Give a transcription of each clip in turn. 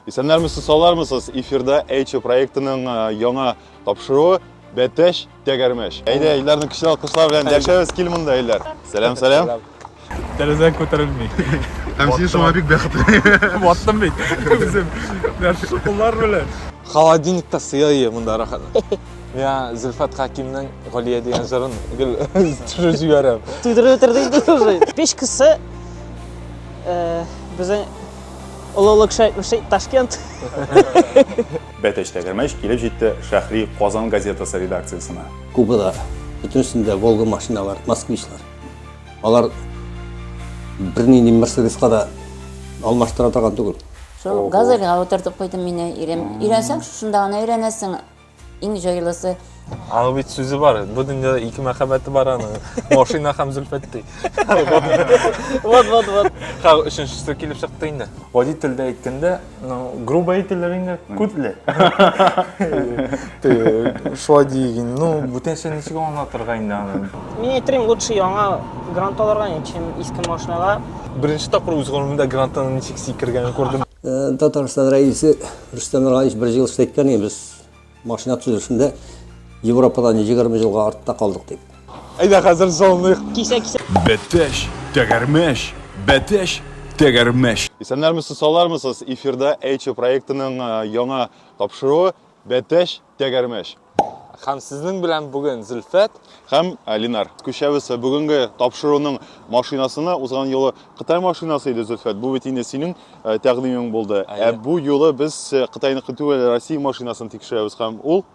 Исәннәрмесез, салармысыз? Эфирда Эйчо проектының э, яңа тапшыруы Бәтәш тәгәрмәш. Әйдә, Илдарны көчле алкышлар белән дәшәбез, кил монда, Илдар. Сәлам, сәлам. Тәрәзә күтәрелми. Һәм син шуңа бик бәхетле. Ваттым бит. Үзем. Менә шушы куллар белән. Холодильникта сыя ие монда рәхәт. Миңа Зөлфәт Хәкимнең Галия дигән җырын гел төшереп җибәрәм. Туйдырып бетердең инде уже. Печкасы э, безнең Олылык шәйтмеши Ташкент. Бәтәч тәгәрмәч килеп җитте Шәхри Казан газетасы редакциясенә. Кубада бөтенесендә Волга машиналар, Москвичлар. Алар бернинди Мерседеска да алмаштыра торган түгел. Шул газельга утыртып куйдым мине ирем. Өйрәнсәң, шушында гына өйрәнәсең. Иң җайлысы. Аның бит сүзе бар. Бу дөньяда ике мәхәббәте бар аның. Машина һәм Зөлфәт ди. Вот, вот, вот. Ха, өченчесе килеп чыкты инде. Водительдә әйткәндә, ну, грубо әйтелер инде, күтле. Шулай диик инде. Ну, бүтәнчә ничек аңлатырга инде аны? Мин әйтерим, лучше яңа грант алырга, чем иске машинага. Беренче тапкыр үз гомеремдә грантның ничек сикергәнен күрдем. Татарстан рәисе Рөстәм Миңгаевич бер җылы әйткән иде, без машина төзелешендә Европадан 20 елга артта калдык дип. Әйдә хәзер золыныйк. Кисә кисә. Бәтәч, тәгәрмәч, бәтәч, тәгәрмәч. Исәннәрмесез, саулармысыз! Эфирда Эйчо проектының яңа тапшыруы Бәтәч, Тәгәрмәч. Хәм сезнең белән бүген Зөлфәт һәм Алинар күчәбез. Бүгенге тапшыруның машинасына узган юлы Кытай машинасы иде Зөлфәт. Бу бит инде синең э, тәкъдимең булды. Ә бу юлы без э, Кытайныкы түгел, Россия машинасын тикшерәбез һәм ул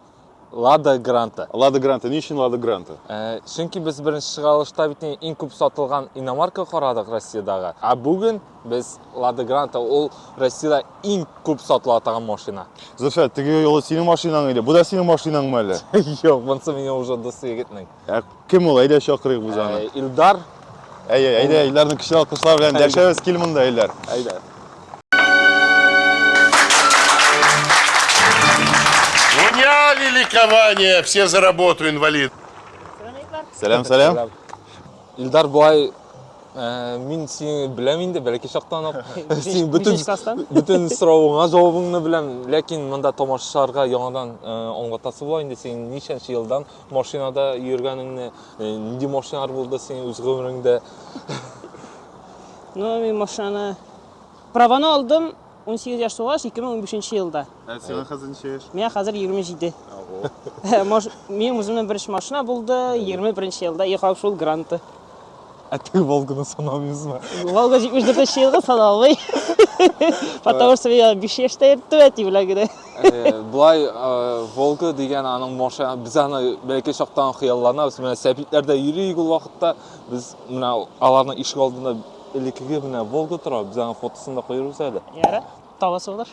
Лада Гранта. Лада Гранта. Ни өчен Лада Гранта? Э, чөнки без беренче чыгарылышта бит иң күп сатылган иномарка карадык Россиядәге. Ә бүген Без Lada Granta, ул Россиядә иң күп сатыла торган машина. Зөфәр, теге юлы синең машинаң иде. Бу да синең машинаңмы әле? Юк, монысы минем уже дус егетнең. Ә кем ул? Әйдә чакырыйк без аны. Э, Илдар. Әйе, әйдә, Илдарны көчле алкышлар белән дәшәбез. Кил монда, Илдар. Әйдә. Меня великование, все за работу, инвалид. Сәлам, сәлам. Илдар буай мин сине беләм инде бәләкәй чактан ук. Син бөтен бөтен соравыңа җавабыңны беләм, ләкин монда тамашачыларга яңадан аңлатасы була инде син ничәнче елдан машинада йөргәнеңне, нинди машиналар булды синең үз гомереңдә? Ну, мин машинаны праваны алдым 18 яшь тулгач, 2015 елда. Ә сиңа хәзер ничә яшь? Миңа хәзер 27. Минем үземнең беренче машина булды, 21 елда яхап шул гранты. Ә теге Волганы санамыйсызмы? Волга 74 елга саналмый. Потому что я 5 яшьтә йөрттем әти белән генә. Булай Волга дигән аның машина, без аны бәлки чактан хыялланабыз. Менә сәбитләрдә йөрик ул вакытта. Без менә аларның ишек алдында Элеккеге менә Волга тора, без аның фотосын да куербыз әле. Ярар. Табасы булыр.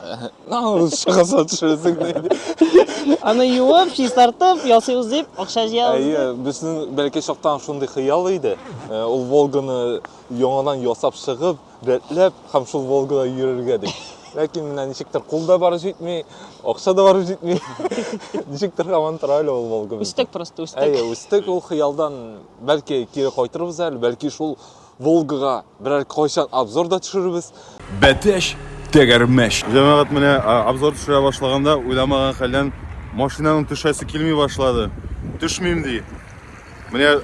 Аны шыгаса төшерәсең диде. Аны юып, чистартып, ясыйбыз дип, акча җыябыз. Әйе, безнең бәлки чактан шундый хыял иде. Э, ул Волганы яңадан ясап чыгып, рәтләп һәм шул Волгада йөрергә дип. Ләкин менә ничектер кул да барып җитми, акча да барып җитми. Ничектер һаман тора әле ул Волга. Үстек просто, үстек. Әйе, үстек ул хыялдан. Бәлки кире кайтырбыз әле, бәлки шул Волгага берәр кайчан обзор да төшерербез. Бәтәш, тәгәрмәш. Җәмәгать менә обзор төшерә башлаганда уйламаган хәлдән машинаның төшәсе килми башлады. Төшмим ди. Менә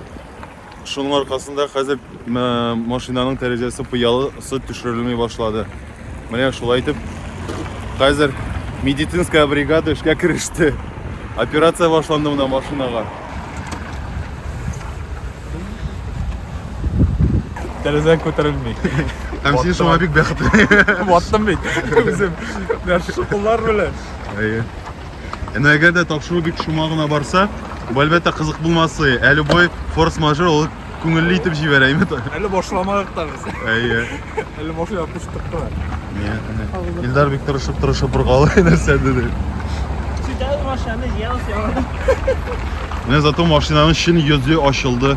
шуның аркасында хәзер машинаның тәрәзәсе пыялысы төшерелми башлады. Менә шулай итеп, хәзер медицинская бригада эшкә кереште. Операция башланды менә машинага. Тәрәзән күтәрелми. Һәм син шуңа бик бәхетле. Ваттым бит. Үзем. Менә шушы куллар белән. Әйе. Әнә әгәр дә тапшыру бик шома гына барса, бу әлбәттә кызык булмасы. Ә любой форс-мажор ул Күңелле итеп җибәрәйме та? Әле башламадык та без. Әйе. Әле башлый куштык кына. Илдар бик тырышып тырышып бер калды нәрсә диде. Сидәл машинаны җыялыш яңа. Менә зато машинаның чын йөзе ачылды.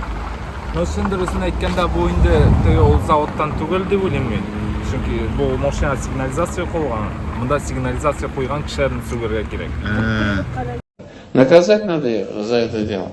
Ну, чын дөресен әйткәндә, бу инде теге ул заводтан түгел дип уйлыйм мин. Чөнки бу машина сигнализация куелган. Монда сигнализация куйган кешеләрне сүгәргә кирәк. Наказать надо за это дело.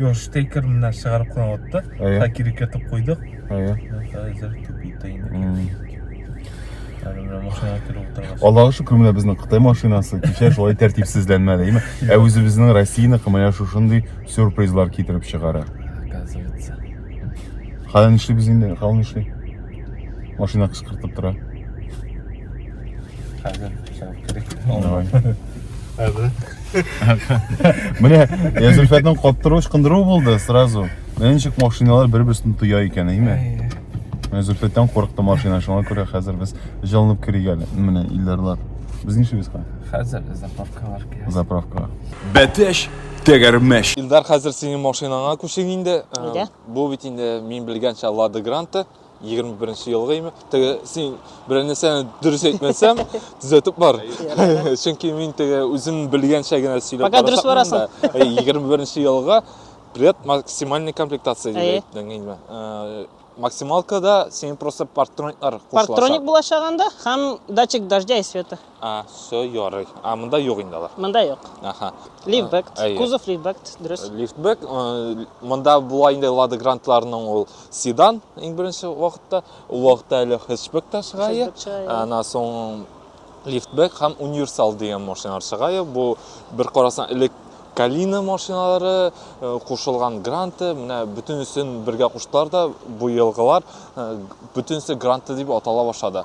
Юл штекер менә чыгарып кына атты. Та кирек ятып куйдык. Әйе. Хәзер тупита инде. Аллага шөкер менә безнең Кытай машинасы кичә шулай тәртипсезләнмәде, әйме? Ә үзебезнең Россиянеке менә шушындый сюрпризлар китереп чыгара. Оказывается. Хәлен эшли без инде, хәлен эшли. Машина кычкыртып тора. Хәзер чыгып керик. Менә Язульфәтнең каптыру ычкындыру булды сразу. Менә ничек машиналар бер-берсен тоя икән, әйме? Менә Зөлфәттән курыкты машина, шуңа күрә хәзер без җылынып керик әле. Менә Илдарлар. Без нишибез ка? Хәзер заправкалар кирәк. Заправка. Бәтәш тәгәрмәш. Илдар, хәзер синең машинаңа күчик инде. Нигә? Бу бит инде мин белгәнчә Лада Гранта. Егерме беренче елгы име? Теге син берәр нәрсәне дөрес әйтмәсәм, төзәтеп бар. Чөнки мин теге үзем белгәнчә генә сөйләп Пока дөрес барасың. Егерме беренче елга пред максимальный комплектация дип әйттең инде. Э, максималкада синең просто партрониклар кушылачак. Партроник булачак анда һәм датчик дождя и света. А, все, ярый. А, монда юк инде алар. Монда юк. Аха. Лифтбэк, э, кузов лифтбэк, дөрес. Лифтбэк, э, монда була инде Лада Грантларның ул седан иң беренче вакытта, ул вакытта әле хэтчбэк та чыга иде. Ана соң лифтбэк һәм универсал дигән машиналар чыга иде. Бу бер карасаң элек Калина машиналары, э, кушылган гранты, менә бөтенесен бергә куштылар да, бу елгылар бөтенесе гранты дип атала башлады.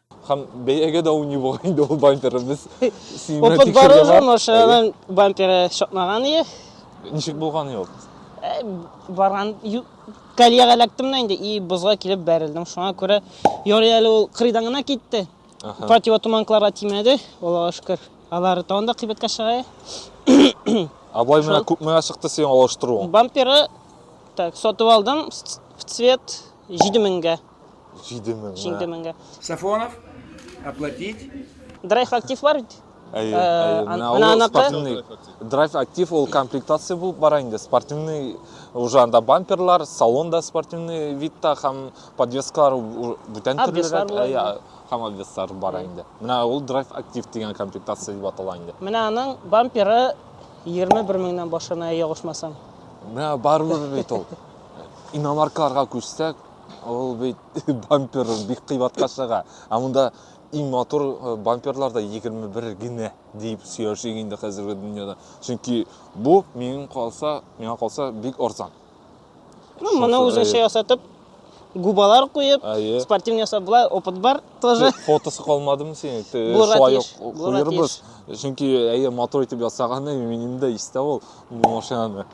Һәм бәягә дә уйный бугай инде ул бамперы. Без синмә Опыт бар уже, машинаның бамперы чакмаган ие. Ничек булган ул? Э, барган коллега эләктем да инде и бозга килеп бәрелдем. Шуңа күрә ярый әле ул кырыйдан гына китте. Противотуманкаларга тимәде, Аллага шөкер. Алар тагын да кыйбатка чыга. А бай менә күпмегә чыкты синең алыштыруың? Бамперы так сатып алдым в цвет 7000 меңгә. Җиде меңгә. Җиде меңгә. Сафонов, оплатить. Драйв актив бар бит? Әйе, әйе. Менә ул спортивный. Драйв актив ул комплектация булып бара инде. Спортивный уже анда бамперлар, салон да спортивный видта һәм подвескалар бүтән төрлерәк. Әйе, һәм обвеслар бар инде. Менә ул драйв актив дигән комплектация дип атала инде. Менә аның бамперы 21 меңнән башлана, ягышмасам. Менә барыбер бит ул. Иномаркаларга күчсәк, Ул бит бампер бик кыйбатка чыга. Ә монда иң матур э, бамперлар да 21 генә дип сөйләшик инде хәзерге дөньяда. Чөнки бу минем калса, миңа калса бик арзан. Ну, моны Шушы, үзенчә әйе. ясатып, губалар куеп, Әйе. спортивный ясап була, опыт бар тоже. Фотосы калмадымы синең? Те- Булырга Шулай тиеш, ук булырга куербыз. Чөнки әйе матур итеп ясаганы минем дә истә ул бу машинаны.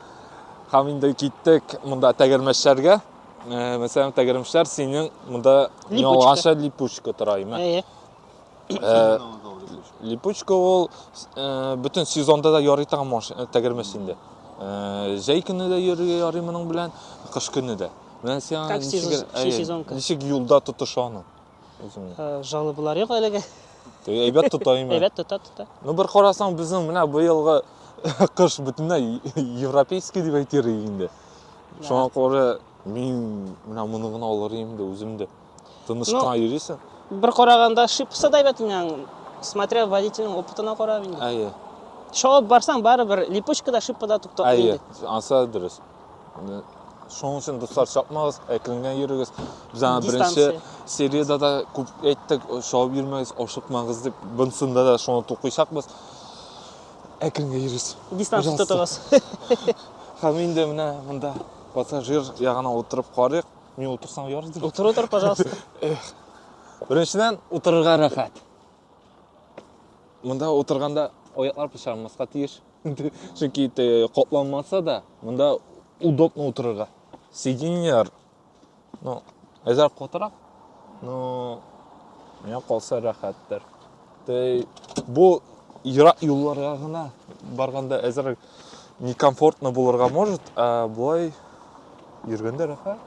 Һәм инде киттек монда тәгәрмәчләргә. Э, мәсәлән, тәгәрмәчләр синең монда ялганча липучка тора име? Әйе. Э, липучка ул э, бөтен сезонда да ярый торган машина, тәгәрмәч инде. Җәй көне дә йөрергә ярый моның белән, кыш көне дә. Менә сиңа ничек юлда тотыша аны? Үзеңне. Э, Җаны болар юк әлегә. Әйбәт тота имә. Әйбәт тота тота. Ну бер карасаң безнең менә быелгы кыш бөтенләй европейский дип әйтер инде. Шуңа күрә мин менә моны гына алыр идем дә үзем дә. Тыныч кына йөрисең. Бер караганда шипса да әйбәт инде. Смотря водительнең опытына карап инде. Әйе. Шауып барсаң барыбер липучкада шипада туктап инде. Әйе, ансы дөрес. Шуның өчен дуслар чапмагыз, әкренләп йөрегез. Без аны беренче сериядә дә күп әйттек, шауып йөрмәгез, ашыкмагыз дип. Бунсында да шуны тукыйчакбыз. Әкренләп йөрегез. Дистанция тотыгыз. Һәм инде менә монда пассажир ягына утырып карыйк. Мин утырсам ярар дип. Утыр, утыр, пожалуйста. Беренчедән, утырырга рәхәт. Монда утырганда аяклар пычранмаска тиеш. чөнки катланмаса да монда удобно утырырга сиденьялар ну әзер катырак но миңа калса рәхәттер бу ерак юлларга гына барганда әзер некомфортно булырга может а болай йөргәндә рәхәт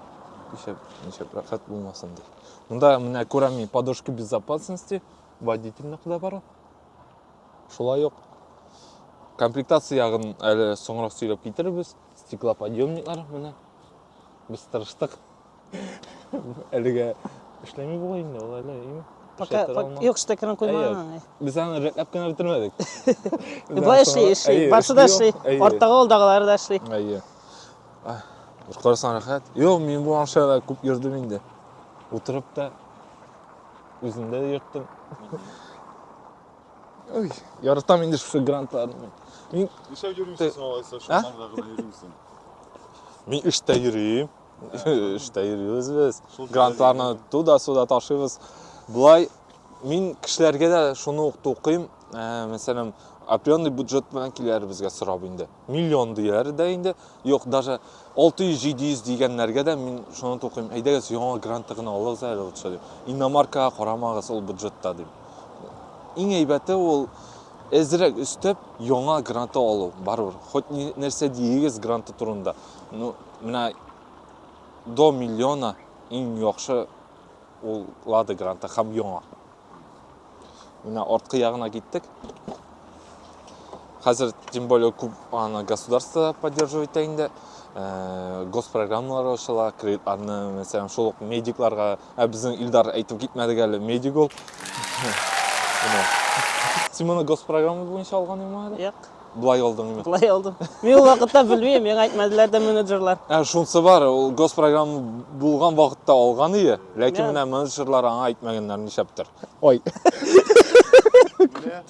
ничек ничек рәхәт булмасын ди монда менә күрәм мин подушка безопасности водительныкы да бар Шулай ук комплектация ягын әле соңрак сөйләп китерербез. Стеклоподъемниклар менә. Без тырыштык. Әлегә эшләми була инде ул әле, име? Пока юк штекерын куймаган. Без аны рәтләп кенә бетермәдек. Болай эшли, эшли. Барсы да эшли. Арттагы алдагылары да эшли. Әйе. Карасаң рәхәт. Юк, мин бу машинада күп йөрдем инде. Утырып та Үземдә дә йөрттем. Ой, яратам инде шушы грантларны. Мин Нишләп йөрмисең соң алайса, шуларда гына йөрмисең? Мин эштә йөрим. Эштә йөрибез без. Грантларны туда-суда ташыйбыз. Болай мин кешеләргә дә шуны ук тукыйм. Мәсәлән, определенный бюджет белән киләр безгә сорап инде. Миллион дияр дә инде. Юк, даже 600-700 дигәннәргә дә мин шуны тукыйм. Әйдәгез, яңа гранты гына алыгыз әле лучше дип. Иномаркага карамагыз ул бюджетта дип. Иң әйбәте ул әзрәк өстәп яңа гранты алу. Барыбер, хоть нәрсә диегез гранты турында. Ну, менә до миллиона иң яхшы ул Лада гранты һәм яңа. Менә арткы ягына киттек. Хәзер, тем более, күп аны государство поддерживать итә инде. Э, госпрограммалар ачыла, кредит арны, мәсәлән, шул ук медикларга, ә безнең Илдар әйтеп китмәдек әле, медик ул. Син моны госпрограмма буенча алган инеме әле? Юк. Былай алдың мин. Былай алдым. Мин ул вакытта белмим, миңа әйтмәделәр дә менеджерлар. Ә шунсы бар, ул госпрограмма булган вакытта алган ие, ләкин менә менеджерлар аңа әйтмәгәннәр нишәптер. Ой.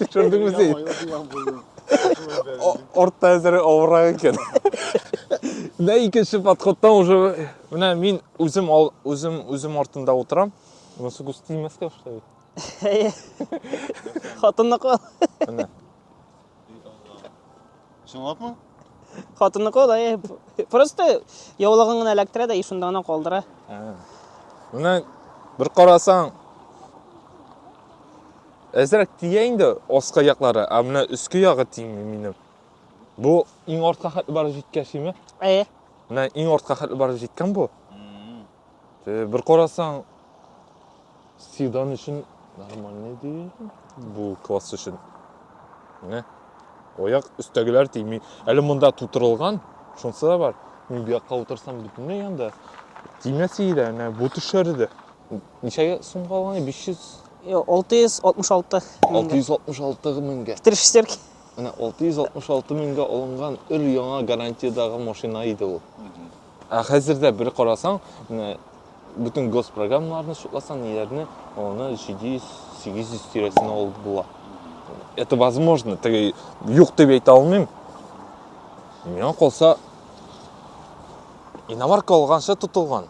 Төшердеңме син? Ортта әзер авырак икән. Менә икенче подходтан уже менә мин үзем үзем үзем артында утырам. Монысы густимәскә что ли? Хатынныкы. Менә. Чынлапмы? Хатынныкы алай. Просто яулыгын гына эләктерә дә и шунда гына калдыра. Менә бер карасаң әзрәк тия инде аска яклары, а менә өске ягы тими минем. Бу иң артка хәтле барып җиткән шиме? Әйе. Менә иң артка хәтле барып җиткән бу. Э, бер карасаң седан өчен нормальный ди бу класс өчен міне аяк өстәгеләр тими әле монда тутырылган шунысы да бар мин бу якка утырсам бөтенләй анда тимәс иде әнә бу төшәр иде ничәгә сумга алган биш йөз алты йөз алтмыш алты алты йөз алтмыш алты меңгә три шестерки міне алты йөз алтмыш алты меңгә алынган өр яңа гарантиядагы машина иде ул Ә хәзер дә бер карасаң, менә бөтен госпрограммаларны шутласаң, ниләрне, аны 700-800 тирәсенә алып була. Это возможно, теге юк дип әйтә алмыйм. Миңа калса, иномарка алганча тотылган.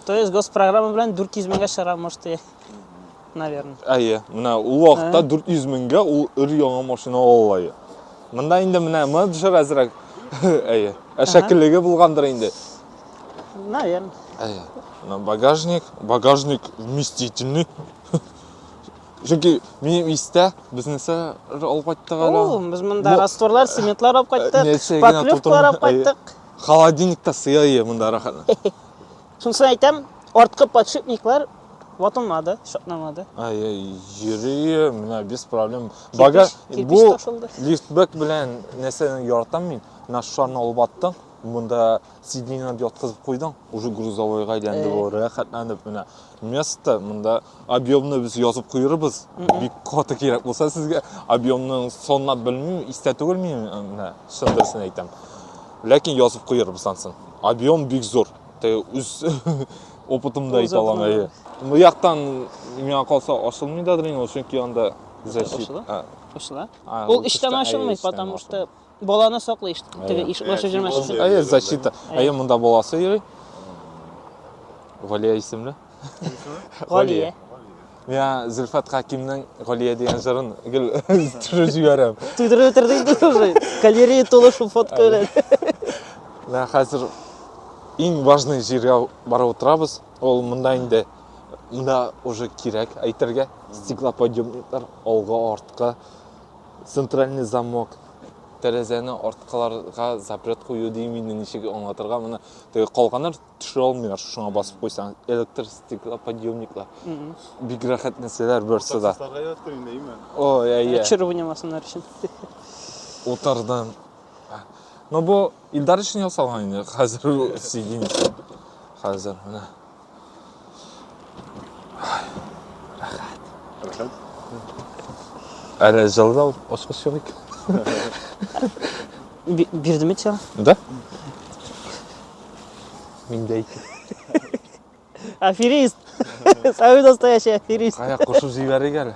То есть госпрограмма белән 400 меңгә чыгара, может, наверное. Әйе, менә ул вакытта 400 меңгә ул өр-яңа машина ала алды. Монда инде менә моны төшер әзрәк. Әйе. Ә шәкеллеге булгандыр инде. Наверное. Әйе. Менә багажник, багажник вместительный. Чөнки минем истә безнесе алып кайттык әле. О, без монда растворлар, цементлар алып кайттык, поклевкалар алып кайттык. Холодильникта сыя ие монда рәхәт. Шунысын әйтәм, арткы подшипниклар ватылмады, шатнамады. Ай, йөри, менә без проблем. Бага бу лифтбэк белән нәрсәне яратам мин. Менә шуны алып аттың, монда сиденьены яткызып куйдың, уже грузовойга әйләнде ул, рәхәтләнеп менә. Место монда объемны без язып куербыз бик каты кирәк булса сезгә объемны санлап белмим истә түгел мин менә чын дөресен әйтәм ләкин язып куербыз ансын объем бик зур үз опытымда әйтә алам әйе бу яктан миңа калса ачылмый да дренаж чөнки анда защита ачыла ул эчтән ачылмый потому что Баланы саклый ишт, теге ишек ачып җөрмәсен. Әйе, Әйе, защита. Әйе. Әйе, монда баласы йөри. Галия исемле. Галия. Миңа Зөлфәт Хакимның Галия дигән җырын гел төшереп җибәрәм. Туйдырып бетерде инде уже. Галерея тулы шул фотка белән. Менә хәзер иң важный җиргә барып утырабыз. Ул монда инде монда уже кирәк әйтергә. Стеклоподъемниклар алга, артка. Центральный замок, тәрәзәне арткыларга запрет кую дим инде, ничек аңлатырга моны. Теге калганнар төшә алмыйлар, шуңа басып куйсаң, электр стеклоподъемниклар. Бик рәхәт нәрсәләр берсе дә. Таксистларга яраткыр инде, әйме? Ой, әйе. Чыр уйнамасыннар өчен. Утырдым. Но бу Илдар өчен ясалган инде, хәзер сидим. Хәзер менә. Әле залда ошкы сөйлик. Бирдем бит сиңа. Да? Мин дә икән. Аферист! Самый настоящий аферист! Кая кушып җибәрик әле.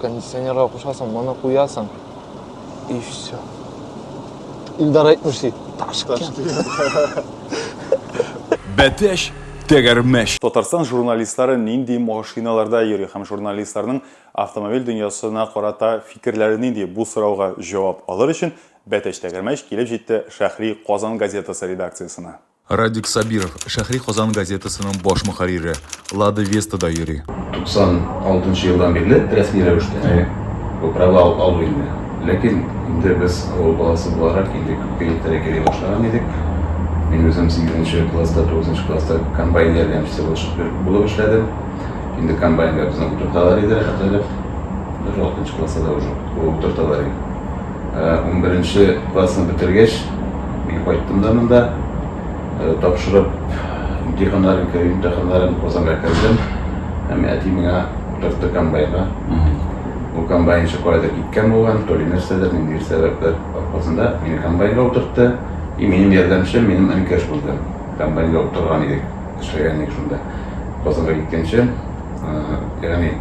Кондиционерга кушасың, моны куясың. И все. Илдар әйтмеш ди. Ташкент. Бәтәш тәгәрмәш. Татарстан журналистлары нинди машиналарда йөри һәм журналистларның автомобиль дөньясына карата фикерләре нинди? Бу сорауга җавап алыр өчен Бәтәч Тәгәрмәч килеп җитте Шәһри Казан газетасы редакциясенә. Радик Сабиров, Шәһри Казан газетасының баш мөхәррире, Лада Веста да йөри. 96 елдан бирле рәсми рәвештә бу права алу инде. Ләкин инде без авыл баласы буларак, 52 ел тирәк йөри башлаган идек. Мин үзем сигезенче класста, тугызынчы класста комбайн ярдәмчесе булып эшләдем. Инде комбайнга безне утырталар иде, рәхәтләнеп. Бер алтынчы класста да уже утырталар иде. Унберенче классны бетергәч, мин кайттым да монда. Тапшырып, имтиханнарын, керү имтиханнарын Казанга кердем. Һәм әти миңа утыртты комбайнга. Ул комбайнчы каядыр киткән булган, то ли нәрсәдер, ниндидер сәбәпләр аркасында мине комбайнга утыртты. И минем ярдәмчем минем энекәш булды. Комбайнга утырган идек, эшләгән идек шунда. Казанга киткәнче, ягъни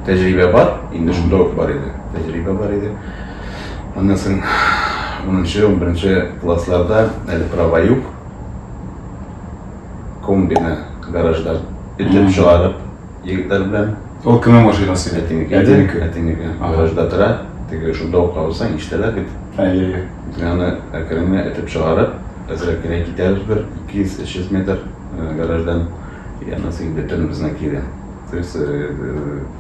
тәҗрибә бар, инде шунда ук бар иде. Тәҗрибә бар иде. Аннан соң унынчы, унберенче классларда әле права юк. Комбины гараждан этеп чыгарып, егетләр белән. Ул кемнең машинасы? Әтинеке. Әтинеке. Әтинеке. Гаражда тора. Теге шунда ук калсаң, ишетәләр бит. Әйе. Аны әкрен генә этеп чыгарып, әзрәк кенә китәбез бер 200-300 метр гараждан. Аннан соң инде төнебезне кире. То есть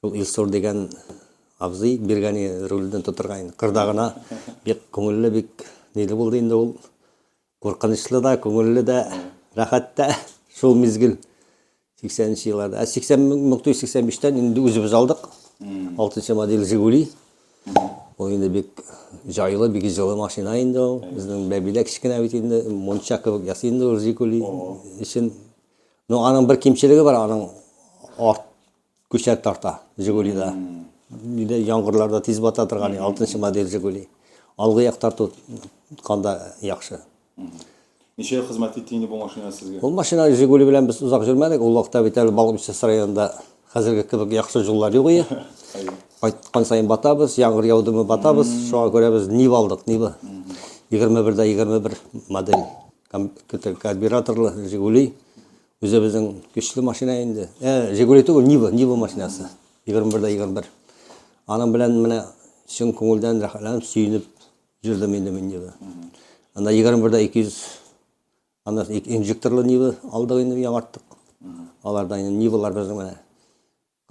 Шул Илсур дигән абзый биргәне рульдән тотырга инде. Кырда гына бик күңелле, бик ниле булды инде ул. Куркынычлы да, күңелле дә, рәхәт тә шул мизгел. 80 нче елларда. Ә 80 1985-тән инде үзебез алдык. 6 модель Жигули. Ул инде бик җайлы, бик җылы машина инде ул. Безнең бәбидә кечкенә бит инде, мунча кебек ясый инде ул Жигули өчен. Ну, аның бер кимчелеге бар, аның арт Күчәк тарта Жигулида. Нидә яңгырларда тиз бата торган 6 модель Жигули. Алгы як тарту канда яхшы. Ничә ел хезмәт итте инде бу машина сезгә? Ул машина Жигули белән без озак йөрмәдек. Ул вакытта бит әле Балыкбичәс районында хәзерге кебек яхшы юллар юк иде. Кайткан саен батабыз, яңгыр яудымы батабыз. Шуңа күрә без Нива алдык, Нива. 21 дә 21 модель карбюраторлы Жигули. Үзебезнең көчле машина инде. Ә, Жигули түгел, Нива, Нива машинасы. 21 дә 21. Аның белән менә чын күңелдән рәхәтләнеп, сөенеп җөрдем инде мин Нива. Анда 21 дә 200 анда инжекторлы Нива алдык инде яңарттык. Аларда инде Нивалар безнең менә.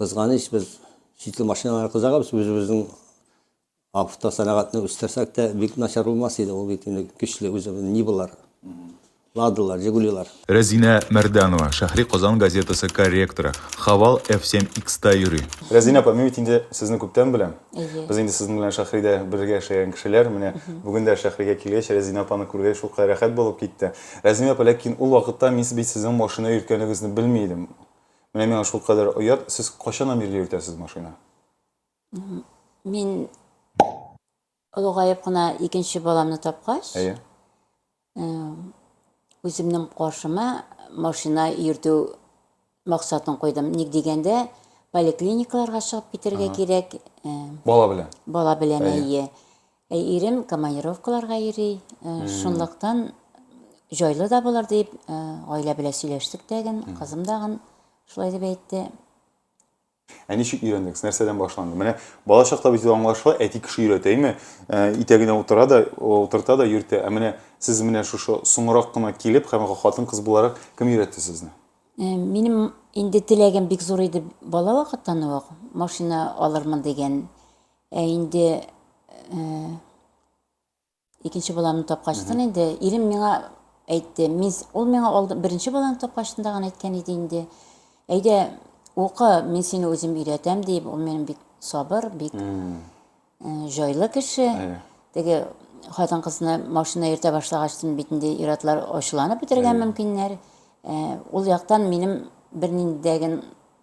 Кызганыч, без читле машиналарга кызыгабыз, үзебезнең автосәнәгатьне үстерсәк тә, бик начар булмас иде, ул бит инде көчле үзе, Нивалар, Ладалар, Жигулилар. Рәзинә Мәрданова, Шәһри Казан газетасы корректоры, Хавал F7 X-та йөри. Рәзинә апа, мин бит инде сезне күптән беләм. Без инде сезнең белән Шәһридә бергә эшләгән кешеләр. Менә бүген дә Шәһригә килгәч, Рәзинә апаны күргәч, шулкадәр рәхәт булып китте. Рәзинә апа, ләкин ул вакытта мин бит сезнең машина йөрткәнегезне белми идем. Менә миңа шулкадәр оят, сез кайчаннан бирле йөртәсез машина? Мин олыгаеп кына икенче баламны тапкач, Әйе. Э, үземнең каршыма машина йөртү максатын куйдым. Ник дигәндә, поликлиникаларга чыгып китәргә кирәк. Э, бала белән. Бала белән әйе. Ә ирем командировкаларга йөри, э, шунлыктан җайлы да булыр дип, э, гаилә белән сөйләштек тәген, кызым дагын шулай дип әйтте. Ә ничек өйрәндегез? Нәрсәдән башланды? Менә бала чакта бит аңлашыла, әти кеше өйрәтә, әйме? Э, Итәгенә утыра да, утырта да йөртә. Ә менә сез менә шушы соңрак кына килеп һәм хатын кыз буларак кем өйрәтте сезне? Э, Минем инде теләгем бик зур иде бала вакыттан ук, машина алырмын дигән. Ә инде э, икенче баламны тапкачтын инде ирем миңа әйтте. Мин ул миңа алды, беренче баланы тапкачтын да гына әйткән иде инде. Әйдә, укы, мин сине үзем өйрәтәм дип, ул минем бик сабыр, бик э, җайлы кеше. Әйе. Теге хатын кызны машина йөртә башлагачтын бит инде ир-атлар ачуланып бетергән мөмкиннәр. Э, Ул яктан минем берниндәген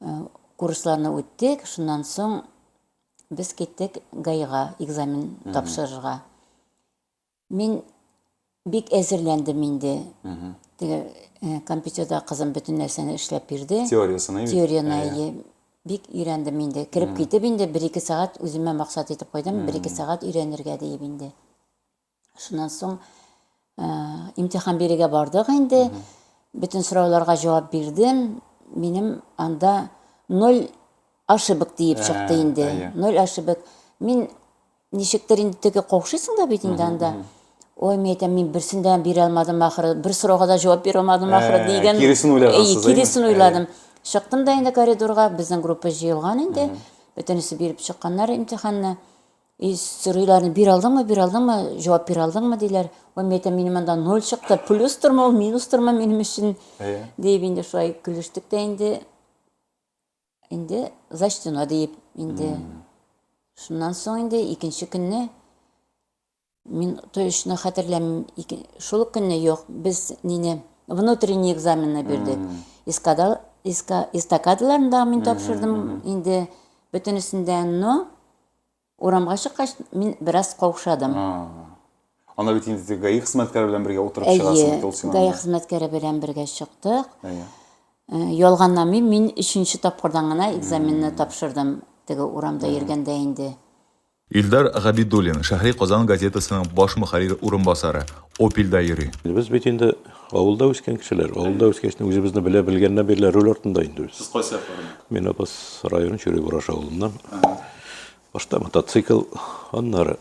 Э, курсларны үттек, шуннан соң без киттек ГАИга экзамен тапшырырга. Мин бик әзерләндем инде. Теге э, компьютерда кызым бөтен нәрсәне эшләп бирде. Теориясен әйе. Теорияны әйе. Бик өйрәндем инде. Кереп китеп инде 1-2 сәгать үземә максат итеп куйдым, 1-2 сәгать өйрәнергә диеп инде. Шуннан соң э, имтихан бирергә бардык инде. Бөтен сорауларга җавап бирдем. Минем анда ноль ошибок диеп Ә, чыкты инде. әйе. Ноль ошибок. Мин ничектер инде теге каушыйсың да бит инде анда. Ой, мен әйтәм, мин берсен дә бирә алмадым ахыры, бер сорауга да җавап бирә алмадым ахыры Ә, дигән. киресен уйлагансыз, Әйе, әйеме? киресен уйладым. Чыктым да инде коридорга, безнең группа җыелган инде. Бөтенесе биреп чыкканнар имтиханны. И сорыйларны бир алдыңмы, бир алдыңмы, җавап бир алдыңмы диләр. Ой, мин әйтәм, минем анда ноль чыкты, плюс тормы ул, минус тормы минем өчен, Әйе. диеп инде шулай көлештек тә инде, инде зачтено диеп инде. Шуннан соң инде икенче көнне мин точно хәтерләмим, ике- шул ук көнне юк, без нине внутренний экзаменны бирдек. Эскадал, эска, эстакадаларны да мин тапшырдым инде бөтенесендә, но Урамга чыккач, мин бераз каушадым. Ана бит инде теге ГАИ хезмәткәре белән бергә утырып чыгасың бит ул син. ГАИ хезмәткәре белән бергә чыктык. Әйе. Э, Ялганламый, мин өченче тапкырдан гына экзаменны тапшырдым. Теге урамда йөргәндә инде. Илдар Габидуллин, Шәһри Казан газетасының баш мөхәррире урынбасары, Опельдә йөри. Без бит инде Авылда үскән кешеләр. Авылда үскәч, үзебезне белә белгәннән бирле руль артында инде без. Сез кайсы яклардан? Мин Апас районы Чүрек Ураш авылыннан. Башта мотоцикл, аннары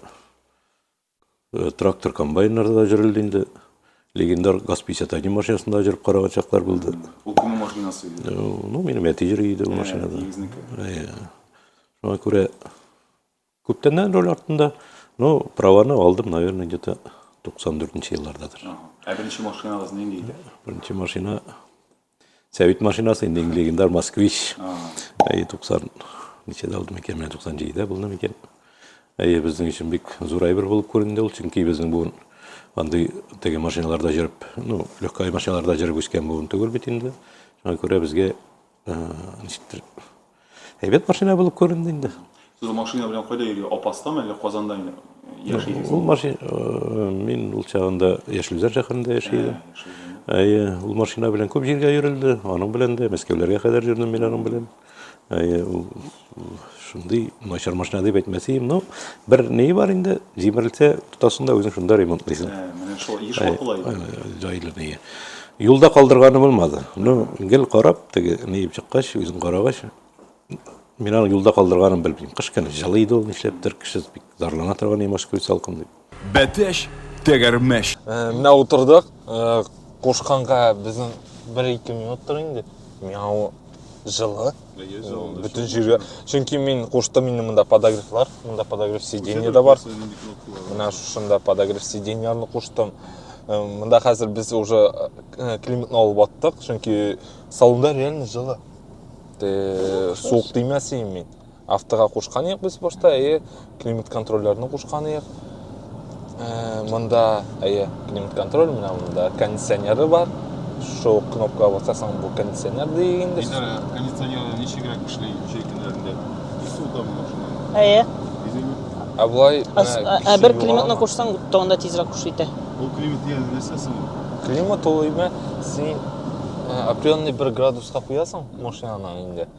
э, трактор комбайннарда да җөрелде инде. Легендар ГАЗ-51 машинасында җөреп караган чаклар булды. Ул кемнең машинасы иде? Э, Ну, минем әти җөри иде ул машинада. Ә, Егезнеке. Ә, Шуңа күрә Күптәннән роль артында, ну, праваны алдым, наверное, где-то 94 еллардадыр. Ә беренче машинагыз нинди иде? Беренче машина Сәвит машинасы инде легендар Москвич. Әйе, 90 ничәдә алдым икән, менә 97-дә булдым икән. Әйе, безнең өчен бик зур әйбер булып күренде ул, чөнки безнең буын андый теге машиналарда җөреп, ну, легкай машиналарда җөреп үскән буын түгел бит инде. Шуңа күрә безгә Ничектер. Әйбәт машина булып күренде инде. Сез машина белән кайда йөри? Апастамы әллә Казанда яшисез? Ул машина э, мин ул чагында Яшелзәр шәһәрендә яши э, идем. Әйе, ул машина белән күп җиргә йөрелде. Аның белән дә Мәскәүләргә кадәр йөрдем мин аның белән. Әйе, ул Шундый начар машина дип әйтмәсәем, но бер ни бар инде, җимерелсә, тотасың да үзең шунда ремонтлыйсың. Ә, менә шул еш вакыла иде. Җайлы ни. Юлда калдырганы булмады. Ну, гел карап, теге ни дип чыккач, үзең карагач, мин аны юлда калдырганын белмим. Кыш көне җылы иде ул, нишләптер, кеше бик зарлана торган, ямаш көй салкын дип. Бәтәч, тәгәрмәч. Менә утырдык, кушканга безнең бер-ике минут тор инде. Мяу җылы. Бөтен җиргә. Чөнки мин куштым инде монда подогревлар, монда подогрев сиденье дә бар. Менә шушында подогрев сиденьяларны куштым. Монда хәзер без уже климатны алып аттык, чөнки салонда реально җылы. Суык тимәсен мин. Автога кушканыек без башта, әйе, климат контрольләрне кушканыек. Э, монда, әйе, климат контроль, менә монда кондиционеры бар. Шул кнопка басасаң, бу кондиционер дигән инде. Кондиционер ничегрәк эшли җәй көннәрендә? Су да машина. Әйе. Ә болай ә бер климатны кушсаң, тагында тизрәк куш итә. Бу климат дигән нәрсә соң? Климат ул имә син определенный бер градуска куясың машинаны инде.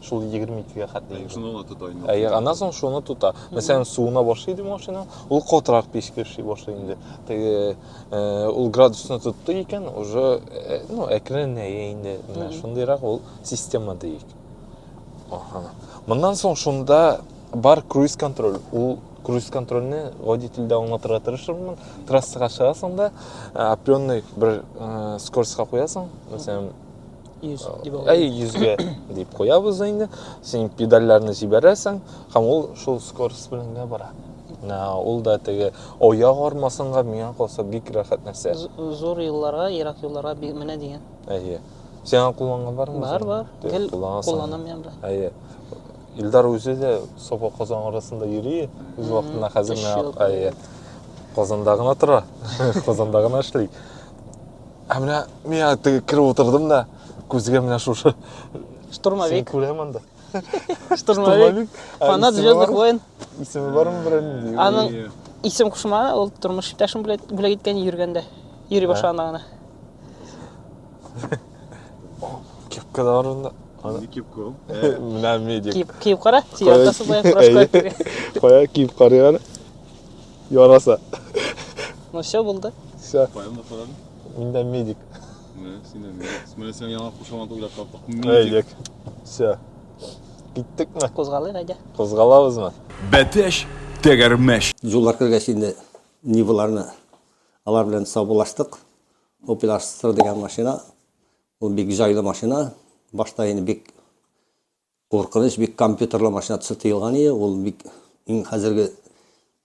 Шул 22-гә хәтле йөри. Шуны гына тота инде. Әйе, аннан соң шуны тота. Мәсәлән, суына башлый иде машина, ул катырак печке эшли башлый инде. Теге э, ул градусны тотты икән, уже э, ну, әкренләя инде. Менә шундыйрак ул система диик. Аха. Моннан соң шунда бар круиз контроль. Ул круиз контрольне гади телдә аңлатырга тырышырмын. Трассага чыгасың да, э, определенный бер э, скоростька куясың. Мәсәлән, 100 дип алып. Әй, 100-гә дип куябыз инде. Син педальләрне җибәрәсең, һәм ул шул скорость белән генә бара. Ә, Ул да теге аяк армасынга миңа калса бик рәхәт нәрсә. З- Зур юлларга, ерак юлларга би- менә дигән. Әйе. Син аны кулланган бармы? Бар, бар. Тө- Гел кулланасың. кулланам я белән. Әйе. Илдар үзе дә Саба Казан арасында йөри. Үз Мгм. вакытында хәзер Өч менә ел әйе. Казанда гына тора. Казанда гына эшли. Ә менә миңа теге кереп утырдым да, күзгә менә шушы. Штурмовик. Күрәм анда. Штурмовик. Фанат звездных войн. Исеме бармы берәүнең? Аның исем кушма, ул тормыш иптәшем бүләк иткән йөргәндә. Йөри башлаганда гына. Кепка да бар анда. Аны кип кул. Менә медик. Кип кип кара. Сиятасы була, прошка. Кая кип карыган? Яраса. Ну все булды. Все. Поем да парады. Мин дә медик. Менә син дә медик. Менә син яңа кушамат уйлап таптык. Медик. Все. Киттекме? Кузгалыйк әйдә. Кузгалабызмы? Бәтәш, тәгәрмәш. Җуллар кергәч инде Ниваларны алар белән саубуллаштык. Opel Astra дигән машина. Ул бик җайлы машина. Башта инде бик Куркыныч бик компьютерлы машина төсе тыелган иде, ул бик иң хәзерге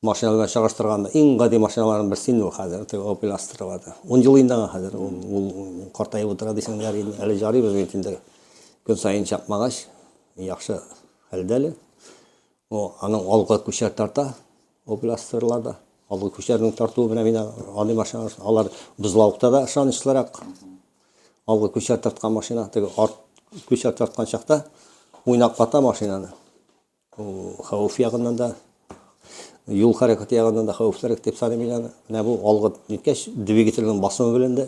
машина белән чагыштырганда иң гади машиналарның берсе инде ул хәзер, теге Opel Astra бар да. Ун ел инде аңа хәзер, ул, ул картаеп утыра дисең, ярый инде, әле җарый безнең инде көн саен чапмагач, яхшы хәлдә әле. О, аның алга күчәр тарта, Областерла да, алгы көчләрнең тартуы белән мин аны машина, алар бузлавыкта да ышанычлырак. Алгы көчләр тарткан машина, теге арт көчләр тарткан чакта уйнаклата машинаны. Хәвеф ягыннан да юл хәрәкәте ягыннан да хәвефлерәк дип саныйм мин аны. Менә бу алгы ниткәч двигательнең басымы белән дә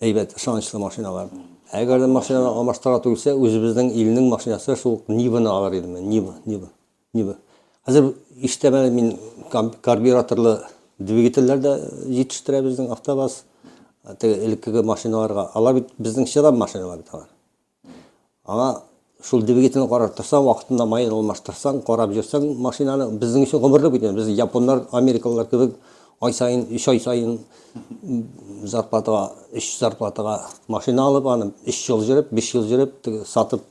әйбәт ышанычлы машиналар. Әгәр дә машинаны алмаштыра түгелсә, үзебезнең илнең машинасы шул Ниваны алыр идем мин, Нива, Нива. Нибы? Хәзер иштәмә мин карбюраторлы двигательләр дә җитештерә безнең автобаз. Теге элеккеге машиналарга. Алар бит безнең чыдам машиналар бит алар. Аңа шул двигательне карап торсаң, вакытында майын алмаштырсаң, карап йөрсәң машинаны, безнең өчен гомерлек бит. Без японнар, америкалылар кебек ай саен, өч ай саен зарплатага, өч зарплатага машина алып, аны өч ел җөреп, биш ел җөреп, сатып,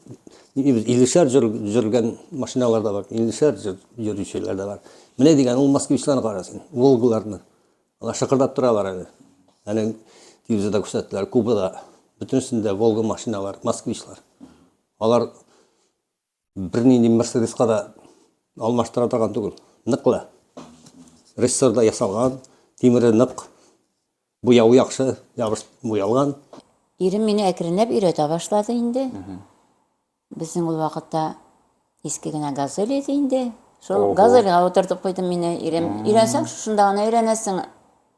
Иллешәр җыр җөргән машиналар да бар, иллешәр җыр йөрүчеләр дә бар. Менә дигән ул москвичларны кара син, Волгаларны. Алар шыкырдап торалар әле. Әле телевизорда күрсәттеләр, Кубада бөтенесендә Волга машиналар, москвичлар. Алар бернинди Мерседеска да алмаштыра торган түгел. Ныклы. Рессорда ясалган, тимере нык. Буяуы яхшы, ябыш буялган. Ирем мине әкренләп өйрәтә башлады инде. Безнең ул вакытта иске генә газель иде инде. Шул Ого. газельгә утыртып куйдым мине ирем. Өйрәнсәң, шушында гына өйрәнәсең.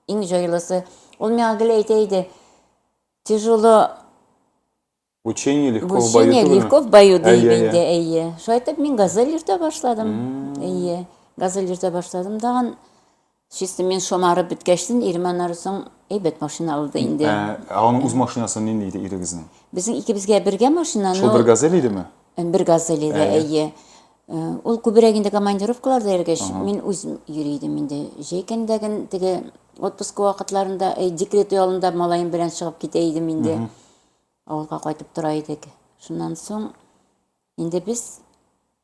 Иң җайлысы. Ул миңа гел әйтә иде, тяжело Учение легко в бою Учение легко в бою дип инде, әйе. Шулай итеп мин газель йөртә башладым. Әйе, газель йөртә башладым. Тагын чисто мин шомарып беткәчтен ирем аннары соң әйбәт машина алды инде. Ә, ә аның үз машинасы нинди иде ирегезнең? Безнең икебезгә бергә машина, Шул бер газель идеме? Бер газель иде, әйе. Э, ул күбрәк инде командировкаларда йөргәч, мин үз йөри идем инде. Җәйкәндәген теге отпуск вакытларында, э, декрет ялында малаем белән чыгып китә идем инде. Авылга кайтып тора идек. Шуннан соң инде без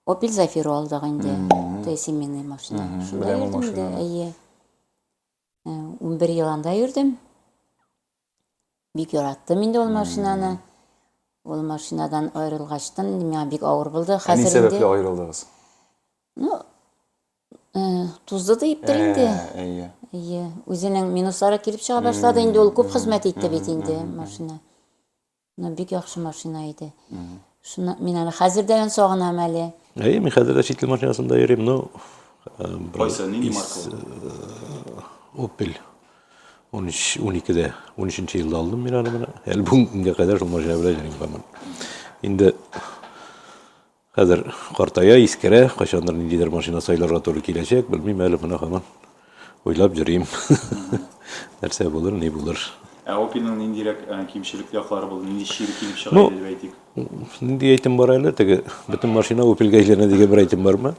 Opel Zafira алдык инде. Тәй семейный машина. Шунда беләм ул йөрдем инде, машинаны. әйе. Ә, 11 ел анда йөрдем. Бик яраттым инде ул машинаны. Ул машинадан аерылгачтын, инде миңа бик авыр булды. Ә ни Хәзер инде, сәбәпле аерылдыгыз? ну, Тузды да иптер инде. Әйе. Әйе. Үзенең минуслары килеп чыга башлады инде, ул күп хезмәт итте бит инде машина. Ну, бик яхшы машина иде. Шуны мин әле хәзер дә аны сагынам әле. Әйе, мин хәзер дә чит ил машинасында йөрим, ну, Кайсы, нинди маркалы? Opel. 13 12-дә, 13-нче елда алдым мин аны менә. Әле бүгенгә кадәр шул машина белән йөрим һаман. Инде Хәзер картая, искерә, кайчандыр ниндидер машина сайларга туры киләчәк, белмим әле, менә һаман уйлап йөрим. Нәрсә булыр, ни булыр. Ә Opel-ның ниндирәк кимчелекле яклары булды, нинди чир килеп чыга иде дип әйтик? Нинди әйтем бар әле, теге бөтен машина Opel-га әйләнә дигән бер әйтем бармы?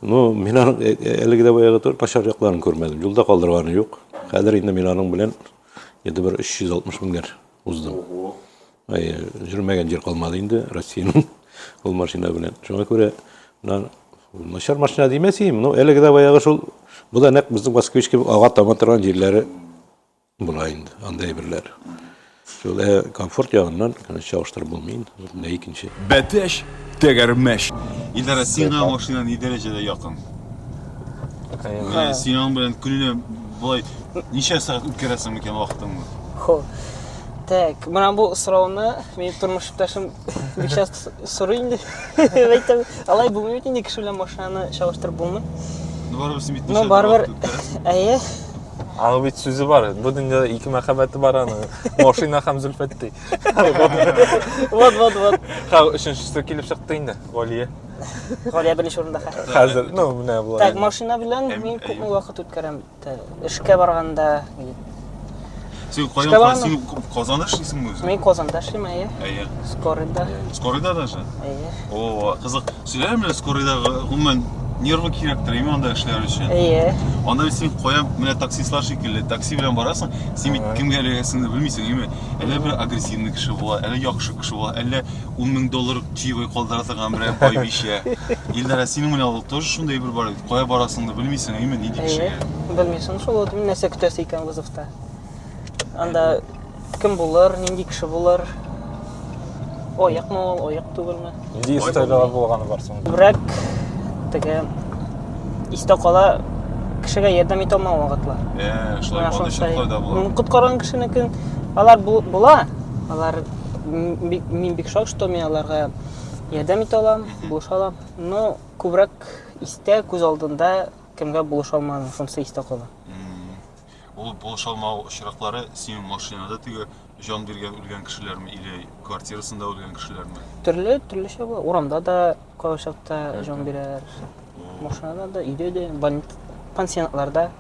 Ну, мин аның әлеге дә баягы түгел, начар якларын күрмәдем, юлда калдырганы юк. Хәзер инде мин аның белән, ниндидер бер 360 меңнәр уздым. Ай, жүрмәгән җир калмады инде Россиянең ул машина белән. Шуңа күрә начар машина димәсем, но әлеге дә баягы шул. Бу да нәкъ безнең Москвич кебек ага тама торган җирләре була инде, анда әйберләр. Шул ә комфорт ягыннан, конечно, чагыштырып булмый инде. Менә икенче. Бәтәш, тәгәрмәш. Илдара, сиңа машина ни дәрәҗәдә якын? Ә, сиңа белән көненә болай ничә сәгать үткәрәсең микән вакытыңны? Хо. Так, менә бу сорауны минем тормыш иптәшем бик часто с- сорый инде. Әйтәм, алай булмый бит инде кеше белән машинаны чагыштырып булмый. Ну, барыбер син бит Ну, барыбер, әйе. Аның бит сүзе бар. Бу дөньяда ике мәхәббәте бар аның. Машина һәм Зөлфәт ди. Вот, вот, вот. Һәм өченчесе килеп чыкты инде, Галия. Галия беренче урында хәзер. Хәзер, ну, менә Так, болай. машина белән Әм- мин әйе. күпме вакыт үткәрәм? Эшкә барганда Син кайда барган? Син Казанда эшлисеңме үзең? Мин Казанда эшлим, әйе. Әйе. Скорыйда. Скорыйда даже? Әйе. О, кызык. Сөйләр менә скорыйда гомумән нервы кирәктер име анда эшләр өчен? Әйе. Анда бит син кая менә таксистлар шикелле, такси белән барасың, син бит кемгә эләгәсеңне белмисең, име? Әллә бер агрессивный кеше була, әллә яхшы кеше була, әллә 10 мең доллар чаевой калдыра торган берәр бай бишә. Илдара, синең менә ул тоже шундый бер бар бит. Кая барасыңны белмисең, әйме, нинди кешегә? Белмисең шул ул нәрсә көтәсе икән вызовта. Анда кем булыр, нинди кеше булыр? Аякмы ул, аяк түгелме? Нинди история булганы бар соң? Күбрәк теге истә кала кешегә ярдәм итә алмау вакытлар. Э, шулай булды шулай да була. Коткарган кешенекен алар була. Алар мин бик шок, что мин аларга ярдәм итә алам, булыша алам. Но Күбрәк истә, күз алдында кемгә булыша алмадың, шунысы истә кала. Ул булыша алмау очраклары синең машинада теге җан биргән үлгән кешеләрме или квартирасында үлгән кешеләрме? Төрле, төрлечә була. Урамда да кайчакта җан бирәләр. Машинада да, өйдә дә, больниц, пансионатларда.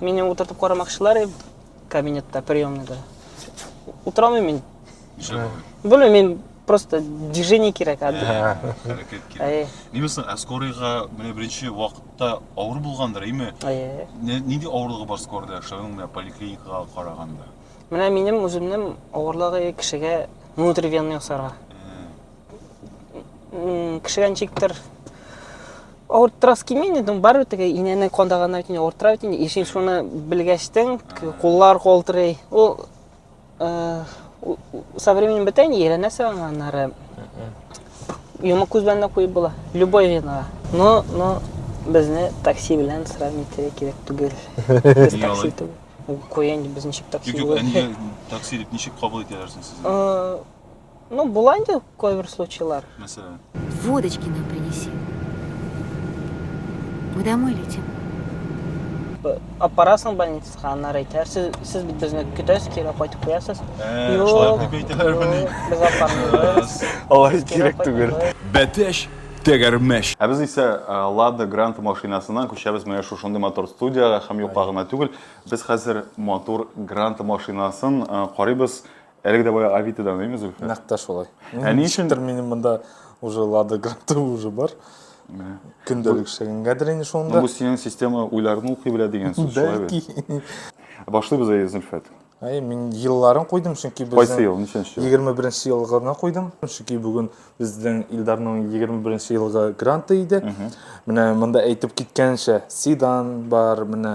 Мине утыртып карамакчылар иде кабинетта, приемныйда. Утыра алмыйм мин. Нишләп? Белмим, мин просто движение кирәк. ә, Ә, Хәрәкәт кирәк. Әйе, Ними соң, ә скорыйга менә беренче вакытта авыр булгандыр, име? әйе. Не- Нинди авырлыгы бар скорыйда яшәүнең менә поликлиникага караганда? Менә минем үземнең авырлыгы кешегә внутривенный ясарга. Ә, М, Кешегә ничектер Авыртырасы килми инде, барыбер теге инәне кандаганнар бит инде, авыртыра бит инде. Ишин шуны белгәчтең, куллар калтырый. Ул э, со временем бетә инде, өйрәнәсең аңа аннары. Йомык күз белән дә куеп була. Любой винага. Но, но безне такси белән сравнить итәргә кирәк түгел. Без Нигә такси алай? түгел. Ул Куя инде без ничек такси Юк, юк, булып. әнигә такси дип ничек кабул итәләр соң сезне? Э, Ну, була инде кайбер случайлар. Мәсәлән. Водочки нам принеси. Мы домой летим. Аппарасың больницага, аннар әйтә. Сез, сез бит безне көтәсез, кире кайтып куясыз. Э, шулай дип әйтәләр мени. Без аппарны. Алай кирәк түгел. Бәтәш тәгәрмәш. Ә без исә э, Лада Гранта машинасыннан күчәбез менә шушындый мотор студиягә һәм юкка гына түгел. Без хәзер мотор Гранта машинасын э, карыйбыз. Әлеге дә баягы Авитодан, әйме, Зөлфә? Нәкъ тә шулай. Ә ни өчен? Ничектер минем монда уже Лада Гранта уже бар. Көндәлек эшләгәнгәдер инде шунда. Бу синең система уйларны укый белә дигән сүз шулай бит. Бәлки. Башлыйбыз әйе, Зөлфәт. Әйе, мин елларын куйдым, чөнки безнең Кайсы ел, ничәнче ел? 21 ел гына куйдым, чөнки бүген безнең Илдарның 21 елгы гранты иде. Менә монда әйтеп киткәнчә, седан бар, менә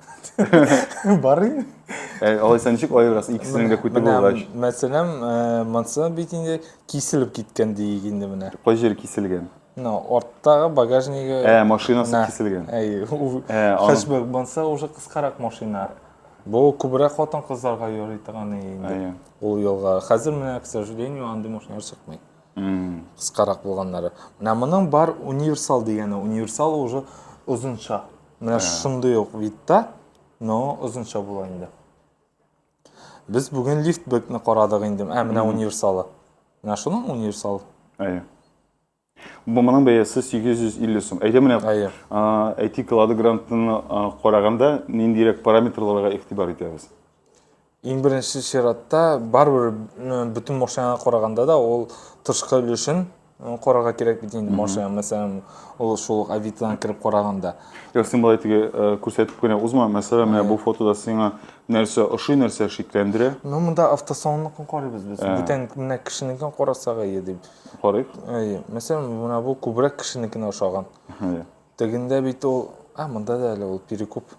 Бар инде. Ә алайса ничек аерасың икесенең дә күте булгач? Мәсәлән, э, монсы бит инде киселеп киткән диик инде менә. Кай җире киселгән? Ну, арттагы багажнигы. Ә, машинасы киселгән. Әй, э, хәшбәк монса уже кыскарак машина. Бу күбрәк хатын кызларга йөри торган инде. Ул елга. Хәзер менә, к сожалению, андый машиналар чыкмый. Кыскарак булганнары. Менә моның бар универсал дигәне. Универсал уже озынча. Менә шундый ук видта, но озынча була инде. Без бүген лифтбекны карадык инде. Ә менә универсалы. Менә шуның универсалы. Әйе. Бу моның бәясе 850 сум. Әйдә менә әйтик, Лада Грантны караганда ниндирәк параметрларга игътибар итәбез? Иң беренче чиратта, барыбер бөтен машинага караганда да ул тышкы өлешен карарга кирәк бит инде машина, мәсәлән, ул шул ук Авитодан кереп караганда. Юк, син болай теге күрсәтеп кенә узма. Мәсәлән, менә бу фотода сиңа нәрсә ошый, нәрсә шикләндерә? Ну, монда автосалонныкын карыйбыз без. Бүтән менә кешенекен карасак әйе дип. Карыйк. Әйе. Мәсәлән, менә бу күбрәк кешенекенә ошаган. Тегендә бит ул, а монда да әле ул перекуп.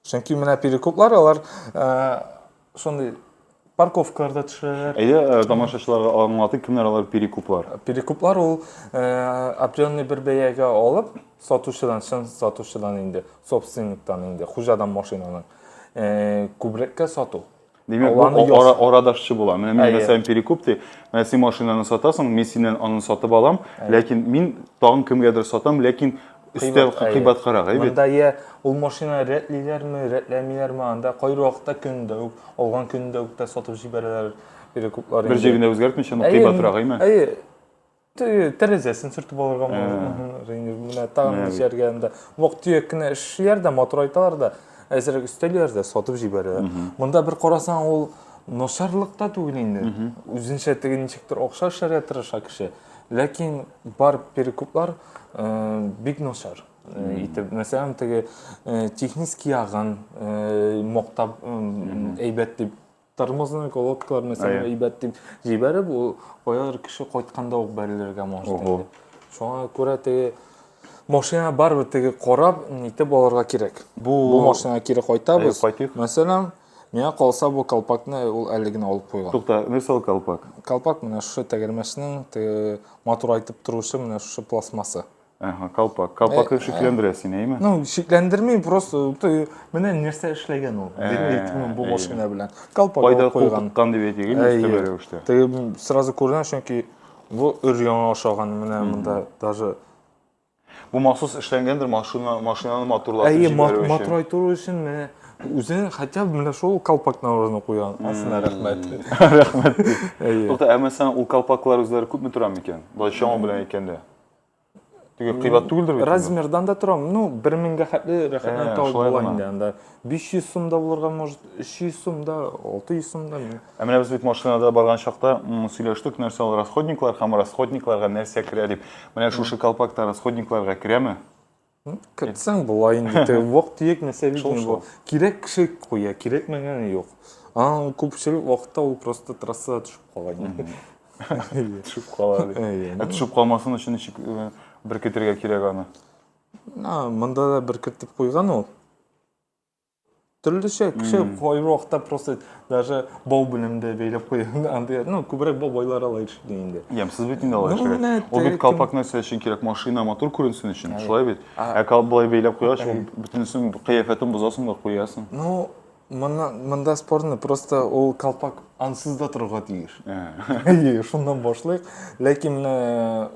Чөнки менә перекуплар алар шундый парковкаларда төшерәләр. Әйдә, э, тамашачыларга аңлатыйк, кемнәр алар перекуплар? Перекуплар ул э, определенный бер бәягә алып, сатучыдан, чын сатучыдан инде, собственниктан инде, хуҗадан машинаның э, күбрәккә сату. Димәк, бу Алланы яз. ара, арадашчы була. Менә мин Әйе. мәсәлән перекуп ди. Менә син машинаны сатасың, мин синнән аны сатып алам, ләкин мин тагын кемгәдер сатам, ләкин өстә әйе. кыйбаткарак, әйе бит? Монда я ул машина рәтлиләрме, рәтләмиләрме, анда кайбер вакытта көн дә үк, алган көн дә үк тә сатып җибәрәләр перекуплар. Бер инде. җирендә үзгәртмичә, но Әйе, кыйбатрак, әйме? Әйе. тәрәзәсен сүртеп алырга менә тагын җәргә анда вак төяк кенә эшлиләр дә матурайталар да әзрәк өстәлиләр дә сатып җибәрәләр монда бер карасаң ул начарлык та түгел инде үзенчә теге ничектер акча эшләргә тырыша кеше ләкин бар перекуплар бик начар итеп мәсәлән теге технический ягын мактап әйбәт дип Тормозный колодкаларны сиңа әйбәт дип җибәреп, ул каядыр кеше кайтканда ук бәрелергә мөмкин. Шуңа күрә теге машина барыбер теге карап, нитеп алырга кирәк. Бу, бу машинага кире кайтабыз. Кайтыйк. Мәсәлән, миңа калса бу колпакны ул әле генә алып куйган. Тукта, нәрсә ул колпак? Колпак менә шушы тәгәрмәчнең матурайтып торучы менә шушы пластмасса. Әһә, калпак. Калпак шикләндерә сине, әйме? Ну, шикләндерми, просто ты менә нәрсә эшләгән ул. Димәк, бу машина белән. Калпак Кайда куйган кан дип әйтегез, өстәмә рәвештә. Ты сразу күрдең, чөнки бу өр яңа ашаган менә монда даже Бу махсус эшләнгәндер машина, машинаны матурлатып җибәрү өчен. Әйе, матурлату өчен менә үзен хотя бы менә шул колпактан урын куйган. Асына рәхмәт. Рәхмәт. Әйе. Тукта, ә мәсәлән, ул колпаклар үзләре күпме тора микән? Бай чама белән әйткәндә. Теге кыйбат түгелдер бит. Размердан да тора. Ну, 1000-гә хәтле рәхәтләнеп табып була инде анда. 500 сум да булырга может, 300 сум да, 600 сум да. Ә менә без бит машинада барган чакта сөйләштек, нәрсә ул расходниклар һәм расходникларга нәрсә керә дип. Менә шушы колпакта расходникларга керәме? Кертсәң болай инде, теге вак-төяк нәрсә бит Шул, инде бу. шул. Кирәк кеше куя, кирәкмәгәне юк. Аның күпчелек вакытта ул просто трассада төшеп кала инде. Әйе. Төшеп кала. ди. Әйе. Ә төшеп калмасын өчен ничек э, беркетергә кирәк аны? А, Монда да бер кертеп куйган ул. төрлечә кеше кайбер вакытта просто даже бау белән дә бәйләп куя андый ну күбрәк бау байлар ала ишетли инде ямьсез бит инде алай эшләгән ул бит калпак нәрсә өчен кирәк машина матур күренсен өчен шулай бит ә калп былай бәйләп куйгач ул бөтенесен кыяфәтен бозасың да куясың ну мына монда спорный просто ул калпак ансыз да торырга тиеш әйе шуннан башлыйк ләкин менә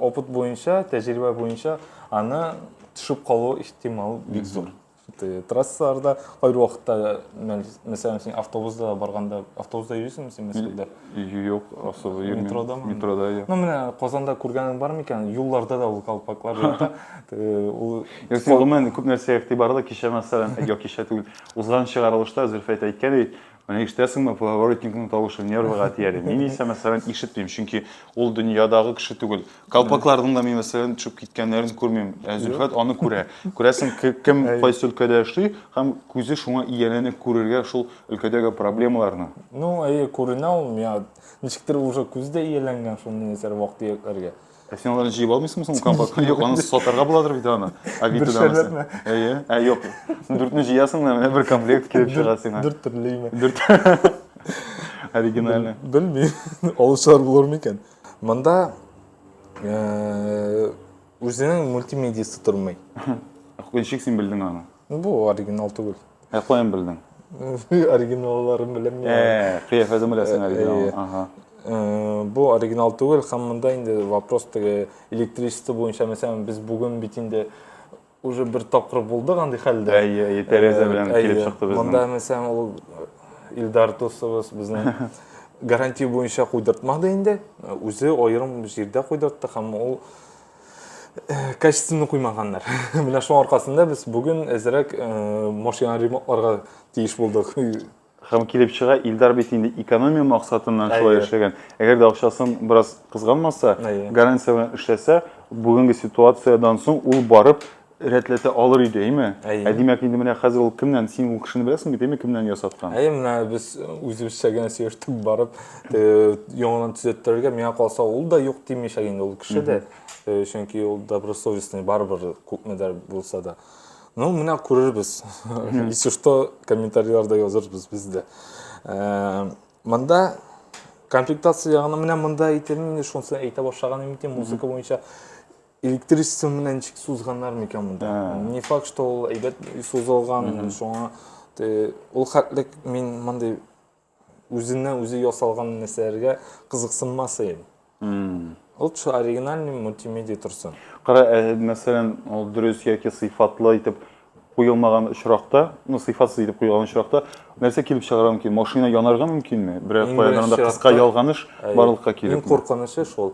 опыт буенча тәҗрибә буенча аны төшеп калу ихтимал бик зур Ты трассаларда кайбер вакытта, мәсәлән, син автобуста барганда, автобуста йөрисеңме син Мәскәүдә? Юк, автобуста йөрмим. Метродамы? Метрода, я. Ну, менә Казанда күргәнең бар микән? Юлларда да ул колпаклар ята. Ул Юк, син гомумән күп нәрсә игътибарлы кичә мәсәлән, я кичә түгел, узган чыгарылышта Зөлфәт әйткән ди, Менә ишетәсеңме, поворотникның тавышы нервыга тияли. Мин исә, мәсәлән, ишетмим, чөнки ул дөньядагы кеше түгел. Калпакларның да мин, мәсәлән, төшеп киткәннәрен күрмим. Ә Зөлфәт аны күрә. Күрәсең, кем кайсы өлкәдә эшли һәм күзе шуңа ияләнеп күрергә шул өлкәдәге проблемаларны. Ну, әйе, күренә ул миңа. Ничектер уже күз дә ияләнгән шул миясәр вак-төякләргә. Ә син аларны җыеп алмыйсыңмы соң компактка? Юк, аны сатарга буладыр бит аны. Авитода. Бер шәрләтмә. Әйе. Ә юк. Дүртне җыясың да менә бер комплект килеп чыга сиңа. Дүрт төрлеме? Дүрт. Оригинальный. Белмим. Алучылар булыр микән? Монда үзенең мультимедиясы тормый. Ничек син белдең аны? Бу оригинал түгел. Ә каян белдең? Оригиналларын беләм мин. Ә, кыяфәтен беләсең оригинал. Ага. Бу оригинал түгел, һәм монда инде вопрос теге электричество буенча, мәсәлән, без бүген бит инде уже бер тапкыр булдык андый хәлдә. Әйе, әйе, тәрәзә белән килеп чыкты безнең. Монда, мәсәлән, ул Илдар дусыбыз безнең гарантия буенча куйдыртмады инде. Үзе аерым җирдә куйдыртты һәм ул качественный куймаганнар. Менә шуның аркасында без бүген әзрәк машина ремонтларга тиеш булдык. Һәм килеп чыга, Илдар бит инде экономия максатыннан шулай эшләгән. Әгәр дә акчасын бераз кызганмаса, гарантия белән эшләсә, бүгенге ситуациядән соң ул барып рәтләтә алыр иде, әйме? Әйе. Ә димәк, инде менә хәзер ул кемнән, син ул кешене беләсең бит, әйме, кемнән ясаткан? Әйе, менә без үзебезчә генә сөештек барып, яңадан төзәттерергә, миңа калса, ул да юк димичәк инде ул кеше дә, чөнки ул добросовестный барыбер күпмедер булса да. Ну, менә күрербез. Если что, комментарийларда язырбыз без дә. Монда комплектация ягына менә монда әйтелми, шунысын әйтә башлаган идем, музыка буенча электричество менен ничек сузганнар микән монда ә. не факт что ул әйбәт сузылган шуңа ул хәтлек мин мондый үзеннән үзе ясалган нәрсәләргә кызыксынмас идем лучше оригинальный мультимедиа торсын кара ә, мәсәлән ул дөрес яки сыйфатлы итеп куелмаган очракта ну сыйфатсыз итеп куелган очракта нәрсә килеп чыгарга мөмкин машина янарга мөмкинме берәр кыска ялганыш барлыкка килеп иң куркынычы шул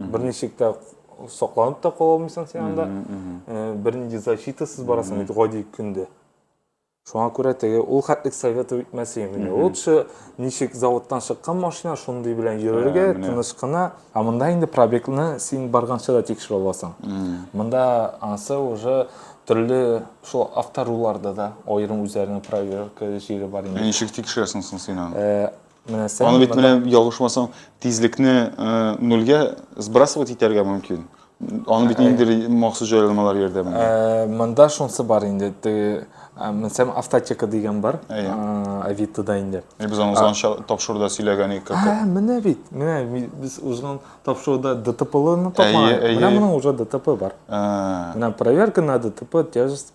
бер ничек тә сакланып та кала алмыйсың сен анда э, бер нинди защитасыз барасың бит гади көндә шуңа күрә теге ул хәтлек советовать итмәсе инде лучше ничек заводтан чыккан машина шундый белән йөрергә ә, тыныч кына ә монда инде пробегны син барганча да тикшерә аласың монда анысы уже төрле шул авторуларда да аерым үзләренең проверка җире бар инде ә ничек тикшерәсең соң син аны э, Менә сән. Аны бит менә ялгышмасам, тизлекне э, нольгә сбрасывать итәргә мөмкин. Аны бит инде махсус җайланмалар ярдәмендә. Э, монда шунсы бар инде. Теге Мәсәлән, автотека дигән бар. Авитода инде. Без аны узганча тапшыруда сөйләгән идек. Ә, менә бит. Менә без узган тапшыруда ДТПлыны тапмадык. Менә моның уже ДТП бар. Менә проверка на ДТП, тяжесть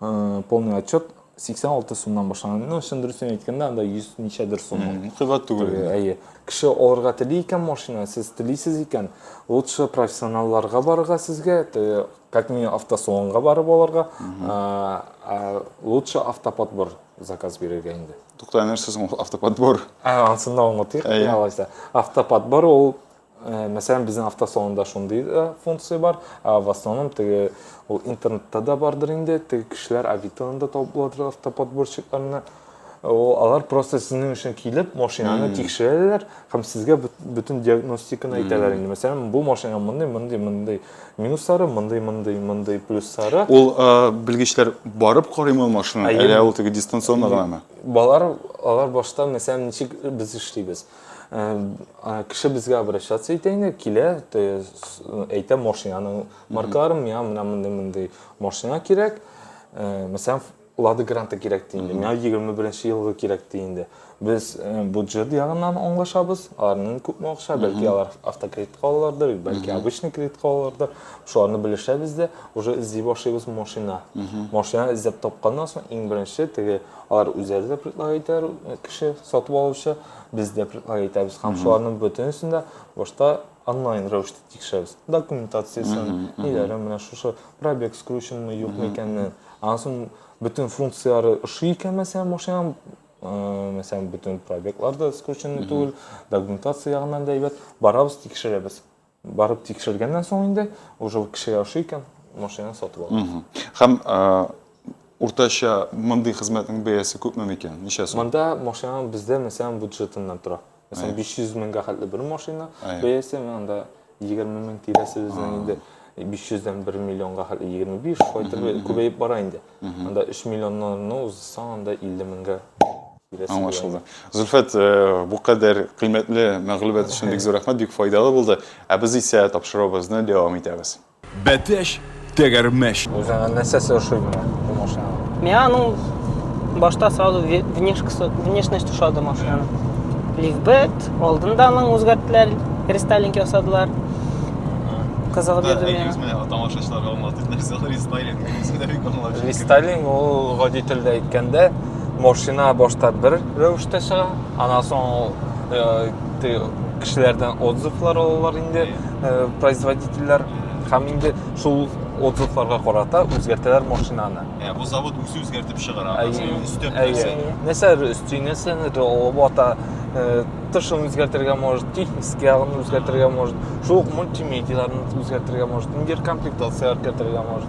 Э, полный отчет 86 сумнан башланды ну чын дөресен әйткәндә анда 100 ничәдер сум кыйбат түгел әйе кеше алырга тели икән машина сез телисез икән лучше профессионалларга барырга сезгә как минимум автосалонга барып алырга лучше автоподбор заказ бирергә инде тукта нәрсә соң автоподбор ә ансында аңлатыйк алайса автоподбор ул Э, мәсәлән безнең автосалонда шундый да э, функция бар ә в основном теге ул интернетта да бардыр инде теге кешеләр авитоны да табып буладыр автоподборщикларны э, ул алар просто сезнең өчен килеп машинаны тикшерәләр һәм сезгә бөтен диагностиканы әйтәләр инде мәсәлән бу машина мондый мондый мондый минуслары мондый мондый мондый плюслары ул белгечләр барып карыймы машинаны әллә ул теге дистанционно гынамы балалар алар башта мәсәлән ничек без эшлибез кеше безгә обращаться итә инде килә әйтә машинаның маркаларын миңа менә мондый мондый машина кирәк мәсәлән лада гранта кирәк ди инде миңа егерме беренче елгы кирәк ди инде без бюджет ягыннан аңлашабыз аларның күпме акча бәлки алар автокредитка алалардыр бәлки обычный кредитка алалардыр шуларны белешәбез дә уже эзли башлыйбыз машина машина эзләп тапканнан соң иң беренче теге Алар үзләре дә предлаг итәр, кеше сатып алучы, без дә предлаг итәбез. Һәм шуларның бөтенесен дә башта онлайн рәвештә тикшерәбез. Документациясен, ниләрен, менә шушы пробег скрученмы, юкмы икәнен. Аннан соң бөтен функцияләре ошый икән, мәсәлән, машинаның мәсәлән, бөтен пробеглар да скрученный түгел, документация ягыннан да әйбәт. Барабыз, тикшерәбез. Барып тикшергәннән соң инде, уже кеше яши икән, машинаны сатып ала. Һәм уртача мондый хезмәтнең бәясе күпме микән? Ничә сум? Монда машина бездә мәсәлән бюджетыннан тора. Мәсәлән, 500 меңгә хәтле бер машина бәясе, анда 20 мең тирәсе безнең инде 500-дән 1 миллионга хәтле 25, шулай итеп күбәеп бара инде. Анда 3 миллионнарны узсаң, анда 50 меңгә Аңлашылды. Зөлфәт, э, бу кадәр кыйммәтле мәгълүмат өчен бик зур рәхмәт, бик файдалы булды. Ә без исә тапшыруыбызны дәвам итәбез. Бәтәч, тәгәрмәч. Үзеңә нәрсәсе ошый менә бу машина? Миңа аның башта сразу внешкасы, внешность ошады машинаның. Лифбет, алдында аның үзгәрттеләр, рестайлинг ясадылар. Кызыгып йөрдем миңа. Әйдәгез менә тамашачыларга аңлатыйк нәрсә ул рестайлинг. Рестайлинг ул гади телдә әйткәндә машина башта бер рәвештә чыга анан соң ул э, ты кешеләрдән отзывлар алалар инде э, производительләр һәм инде шул отзывларга карата үзгәртәләр машинаны Ә, бу завод үзе үзгәртеп чыгара. Әйе. Син өстәп Әйе. нәрсәне. Нәрсәләр өсти, нәрсәләр алып ата, э, тышын үзгәртергә может, технический ягын үзгәртергә может, шул ук мультимедияләрне үзгәртергә может, интеркомплектация кертергә может.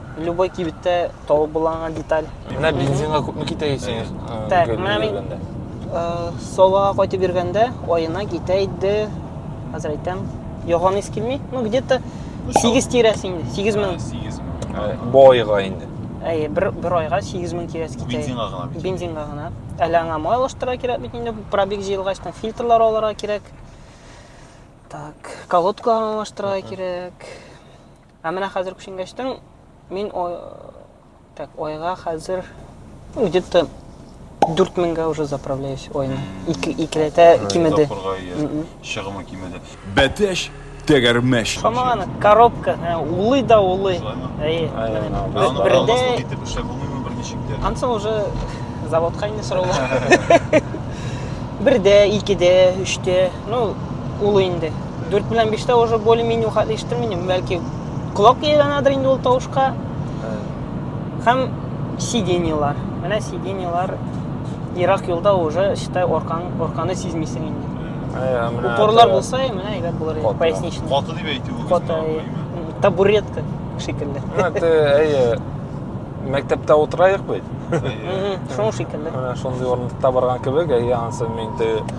Любой кибеттә табып була аңа деталь. Менә бензинга күпме китә исең? Так, менә мин Солага кайтып йөргәндә аена китә иде. Хәзер әйтәм. Яган ис килми. Ну, где-то 8 тирәсе инде. 8 мең. 8 мең. Бу айга инде. Әй, бер бер айга 8 мең тирәсе китә. Бензинга гына. Бензинга гына. Әле аңа май алыштыра кирәк бит инде. Пробег җыелгач, там фильтрлар алырга кирәк. Так, колодка алыштыра кирәк. Ә менә хәзер күченгәчтен мин так айга хәзер где-то 4000-гә уже заправляюсь айны. Ике икеләтә кимеде. Чыгымы кимеде. Бәтәш тәгәрмәч. Шамаганы коробка, улый да улый. Әйе. Бердә итеп эшләп булмыймы берничек тә. Ансы уже заводка инде сораулар. Бердә, икедә, өчтә, ну, улый инде. 4 белән 5 тә уже более-менее ухатлы ишеттерми идем. Бәлки колак ияләнәдер инде ул тавышка. Һәм сиденьялар. Менә сиденьялар ерак юлда уже считай оркан орканы сизмисең инде. Ә, менә Упорлар таяк. булса, менә әйбәт булыр иде, Каты. поясничный. Каты дип әйтүегез Каты, мөһим, әйе. әйе. табуретка шикелле. Менә те, әйе, мәктәптә утырайык бит. Әйе. Мгм, Шуның шикелле. Менә шундый урындыкта барган кебек, әйе, анысы мин те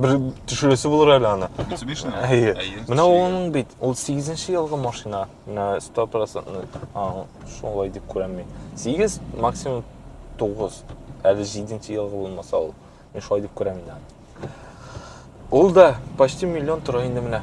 Бер төшерәсе булыр әле аны. Mitsubishi-ны? Әйе. Әйе, Менә ул төшерергә. аның бит, ул 8 елгы машина. Менә 100%. А, шулай дип күрәм мин. 8 максимум 9. Әле 7 елгы булмаса ул. Мин шулай дип күрәм инде. аны. Ул да почти миллион тора инде менә.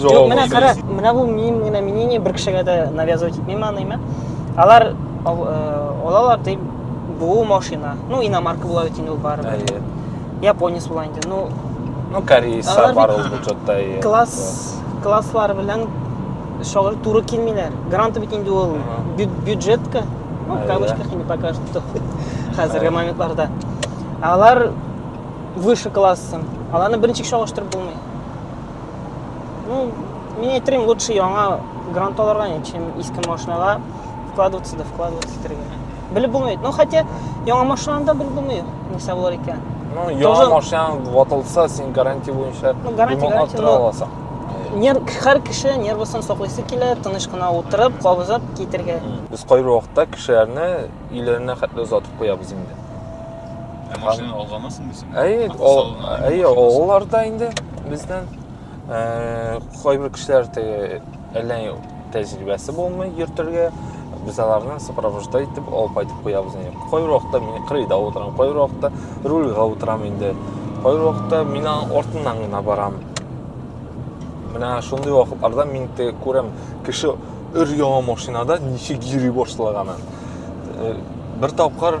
Юк, менә кара, менә бу мин генә мнение бер кешегә дә навязывать итмим аныймы. Алар алалар дип бу машина. Ну, иномарка була бит инде ул бар. Әйе. Японец була инде. Ну, ну корейцлар бар ул бюджетта. Класс класслар белән шагыр туры килмиләр. Гранты бит инде ул бюджетка. Ну, в кавычках не покажет. Хәзерге моментларда. Алар выше классы. Аларны беренче чагыштырып булмый. Ну, мин әйтерим, лучше яңа грант алырга, чем иске машинага вкладываться да вкладываться итәргә. Белеп булмый. Ну, хотя яңа машинаны да белеп булмый, нәрсә булыр икән. Ну, яңа Тоже... машинаң ватылса, син гарантия буенча ну, гарантия, гарантия, но... аласың. Нер, һәр кеше нервысын саклыйсы килә, тыныч кына утырып, кабызып китергә. Без кайбер вакытта кешеләрне өйләренә хәтле озатып куябыз инде. Ә машина алганнан соң дисең? Әйе, әйе, алаларда инде бездән э, кайбер кешеләр теге әллә тәҗрибәсе булмый йөртергә, без аларны сопровожда итеп алып кайтып куябыз инде. Кайбер вакытта мин кырыйда утырам, кайбер вакытта рульга утырам инде. Кайбер вакытта мин артыннан гына барам. Менә шундый вакытларда мин теге күрәм, кеше өр-яңа машинада ничек йөри башлаганын. Э, бер тапкыр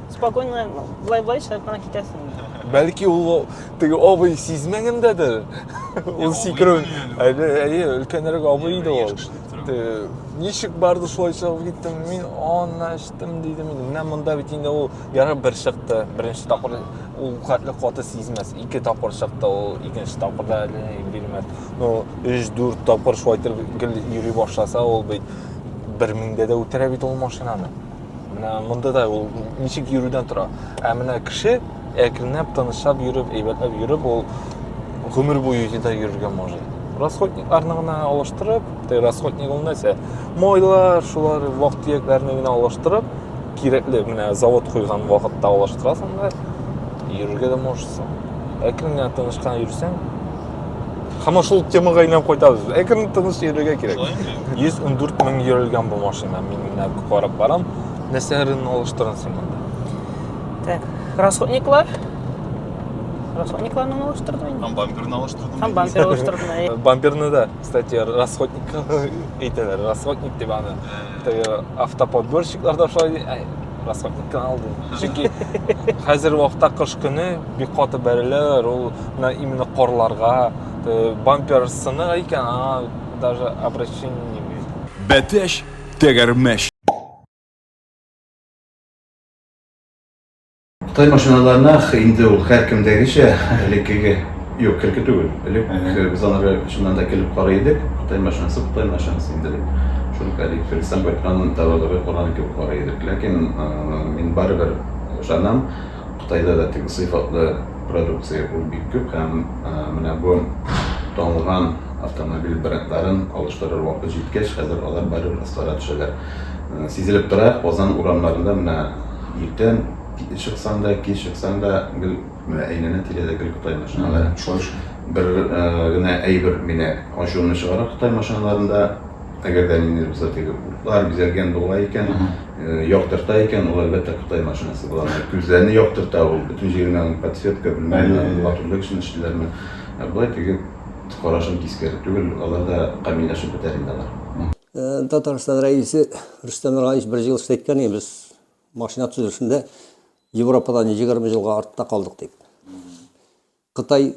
Спокойно былай былай чыгып кына китәсең. Бәлки ул теге абый сизмәгәндәдер. Ул сикерү. Әйе, әйе, өлкәнрәк абый иде ул. Ничек барды шулай чыгып киттем. Мин аны эчтем дидем инде. Менә монда бит инде ул яры бер чыкты. Беренче тапкыр ул катлы каты сизмәс. Ике тапкыр чыкты ул. Икенче тапкырда әле бирмәс. Ну, 3-4 тапкыр шулай итеп гел йөри башласа ул бит 1000 дә үтерә бит ул машинаны. менә монда да ул ничек йөрүдән тора ә менә кеше әкренләп тынычлап йөреп әйбәтләп йөреп ул гомер буе җида йөрергә может расходникларны гына алыштырып расходник ул нәрсә майлар шулар вак төякләрне генә алыштырып кирәкле менә завод куйган вакытта алыштырасың да йөрергә дә можешсың әкрен генә тыныч кына йөрсәң Һәм шул темага әйләнеп кайтабыз. Әкрен тыныч йөрергә кирәк. 114 мең йөрелгән бу машина. Мин менә карап барам. Нәрсәләрен алыштырын син монда? Так, расходниклар. Расходникларны алыштырдым инде. Һәм бамперны алыштырдым. Һәм бампер алыштырдым. Э, бамперны да, кстати, расходник әйтәләр. Расходник дип аны. Э. Автоподборщиклар да шулай расходникны алды. Чөнки хәзер вакытта кыш көне бик каты бәреләләр ул менә именно карларга бампер сынык икән аңа даже обращение бәтәч тәгәрмәч Кытай машиналарына инде ул һәркемдәгечә элеккеге юк элекке түгел элек без анары чыннан да килеп карый идек кытай машинасы кытай машинасы инде дип шул әлеге фелисан байтханның тәвәлләре корган кебек карый идек ләкин мин барыбер ышанам Кытайда да теге сыйфатлы продукция ул бик күп һәм менә бу танылган автомобиль брендларын алыштырыр вакыт җиткәч, хәзер алар барыбер ыслара төшәләр. Сизелеп тора, Казан урамнарында менә иртән чыксаң да, кич чыксаң да, гел менә әйләнә-тирәдә гел Кытай машиналары. Шуның өчен бер генә әйбер мине ачуымны чыгара Кытай машиналарында, әгәр дә ниндидер булса теге утлар бизәлгән була икән, Яктырта икән, ул әлбәттә кытай машинасы була. Менә күзләрне яктырта ул, бөтен җиренә аның подсветка, белмәм, латунлы кешене эшлиләрме. Ә болай теге карашын кискәре түгел, алар да камилләшеп бетәр инде алар. Татарстан Рәисе Рөстәм Миңнегаевич бер җылы сүз әйткән иде, без машина төзелешендә Европадан егерме елга артта калдык дип. Кытай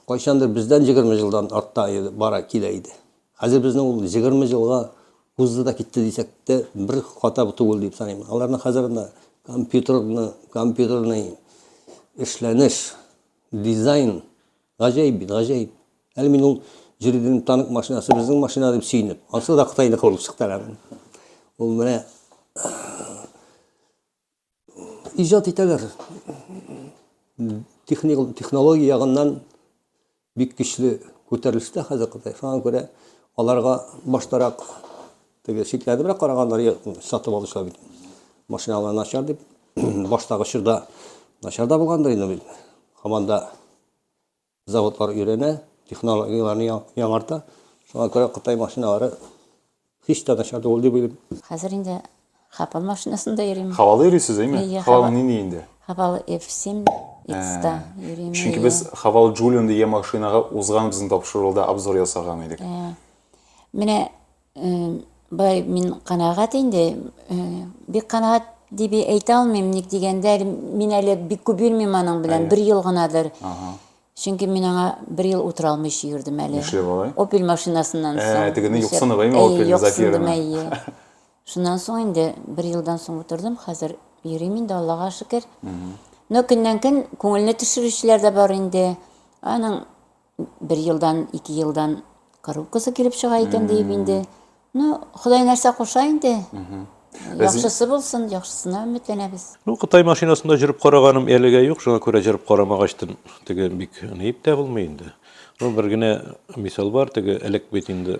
кайчандыр бездән егерме елдан артта бара килә иде. Хәзер безне ул егерме елга узды да китте дисәк тә бер хата түгел дип саныйм. Аларның хәзер анда компьютерны, компьютерный эшләнеш, дизайн гаҗәеп бит, гаҗәеп. Әле мин ул җирдин танк машинасы безнең машина дип сөенеп, ансы да Кытайныкы булып чыкты әле. Ул менә Иҗат итәләр. Техник технология ягыннан бик көчле күтәрелештә хәзер Кытай. Шуңа күрә аларга баштарак теге шикләнебрәк караганнар, йә, сатып алучылар бит. Машиналар начар дип, баштагы чорда начар да булгандыр инде бит. Һаман да Заводлар өйрәнә, технологияләрне яңарта. Шуңа күрә Кытай машиналары һич тә начар түгел дип уйлыйм. Хәзер инде Хапал машинасында йөрим. Хавалы йөрисез, әйме? Хавалы нинди инде? Хавалы F7 X-та йөрим. Чөнки без Хавал Джулион дигән машинага узган безнең тапшыруда обзор ясаган идек. Менә Бай, мин канагат инде. Бик канагат дип әйтә алмыйм, ник дигәндә, мин әле бик күп йөрмим аның белән, бер ел гынадыр. Чөнки мин аңа бер ел утыра алмыйча йөрдем әле. Нишләп алай? Опель машинасыннан соң. Ә, тегене юксынып, әйме, Опель Зафирны? Әйе, юксындым, әйе. Шуннан соң инде бер елдан соң утырдым, хәзер йөрим инде, Аллага шөкер. Но көннән-көн күңелне төшерүчеләр дә бар инде. Аның Бер елдан, ике елдан коробкасы килеп чыга икән диеп инде. Ну, Ходай нәрсә куша инде. Яхшысы булсын, яхшысына өметләнәбез. Ну, Кытай машинасында жүреп караганым әлегә юк, шуңа күрә жүреп карамагачтын, теге бик нип тә булмый инде. Ну, бер генә мисал бар, теге элек бит инде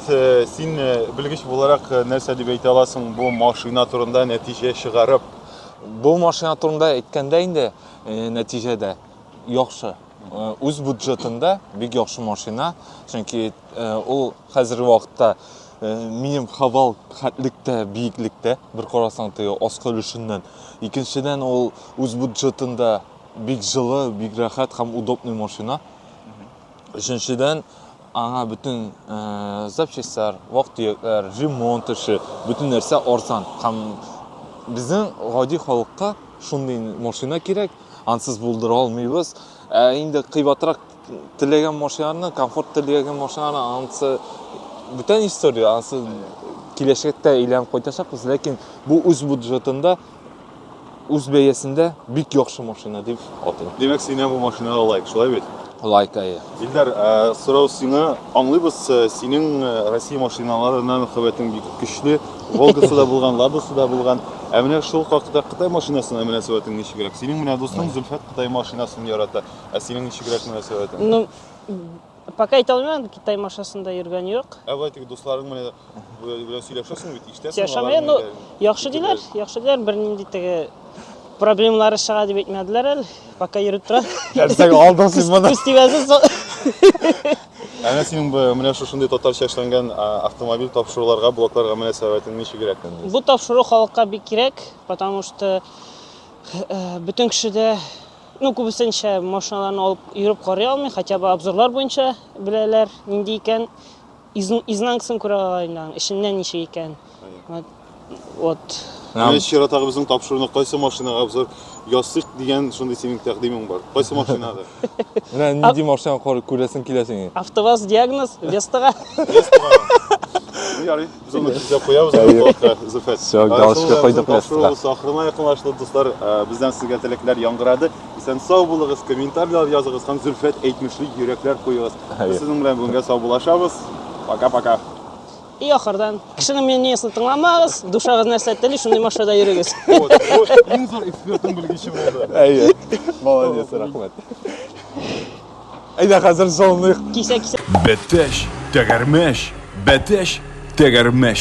Син белгеч буларак нәрсә дип әйтә аласың бу машина турында нәтиҗә чыгарып? Бу машина турында әйткәндә инде нәтиҗәдә яхшы. Үз бюджетында бик яхшы машина, чөнки ул хәзерге вакытта минем хавал хәтлектә, биеклектә, бер карасаң теге аскы өлешеннән. Икенчедән ул үз бюджетында бик җылы, бик рәхәт һәм удобный машина. Өченчедән, Аңа бөтен запчастьлар, вак-төякләр, ремонт эше, бөтен нәрсә арзан. Һәм безнең гади халыкка шундый машина кирәк, ансыз булдыра алмыйбыз. Ә инде кыйбатрак теләгән машинаны, комфорт теләгән машинаны ансы бүтән история, ансы киләчәктә әйләнеп кайтачакбыз, ләкин бу үз бюджетында үз бәясендә бик яхшы машина дип атыйм. Димәк, синә бу машинага лайк, шулай бит? Лайк әйе. Илдар, ә, сорау сиңа. Аңлыйбыз, ә, синең ә, Россия машиналарына мөхәббәтең бик көчле. Волгасы да булган, Ладосы да булган. Ә менә шул хакта Кытай машинасына мөнәсәбәтең ничегрәк? Синең менә дустың Зөлфәт Кытай машинасын ярата. Ә синең ничегрәк мөнәсәбәтең? Ну, Пока әйтә алмыйм, Китай машинасында йөргән юк. Ә болай теге дусларың менә белән сөйләшәсең бит, ишетәсең. Сөйләшәм, ну, яхшы диләр, яхшы диләр, бернинди теге проблемалары чыга дип әйтмәделәр әле. Пока йөреп тора. Нәрсәгә алдың син моны? Күз тибәсен. Әнә синең бу менә шушындый татарча эшләнгән автомобиль тапшыруларга, блокларга мөнәсәбәтең ничегрәк? Бу тапшыру халыкка бик кирәк, потому что э, бөтен кешедә Ну, күбесенчә машиналарны алып йөреп карый алмый, хотя бы обзорлар буенча беләләр, нинди икән, изнанкасын күрә ала инде, эченнән ничек икән. Вот. Менә чиратагы безнең тапшыруны кайсы машинага обзор ясыйк дигән шундый синең тәкъдимең бар. Кайсы машинага? Менә нинди машина күрәсең килә сиңа? АвтоВАЗ диагноз Вестага. Ярый. Без аны кизләп куябыз, Аллаһка, Зөлфәт. Всё, галочка Асылы куйдык Рамзан тапшыруы место. Ахырына якынлашты, дуслар. Э, Бездән сезгә теләкләр яңгырады. Исән сау булыгыз, комментарийлар языгыз һәм Зөлфәт әйтмешли йөрәкләр куегыз. Әйе. Без сезнең белән бүгенгә сау булашабыз. Пока-пока. И ахырдан, кешенең мнениесен тыңламагыз, душагыз нәрсә тели, шундый машинада йөрегез. Вот, вот, Иң зур экспертның белгече булды. Әйе. Молодец, рәхмәт. Әйдә хәзер зонлыйк. Кисә, кисә. Бәтәч, тәгәрмәч, бәтәч, тәгәрмәч.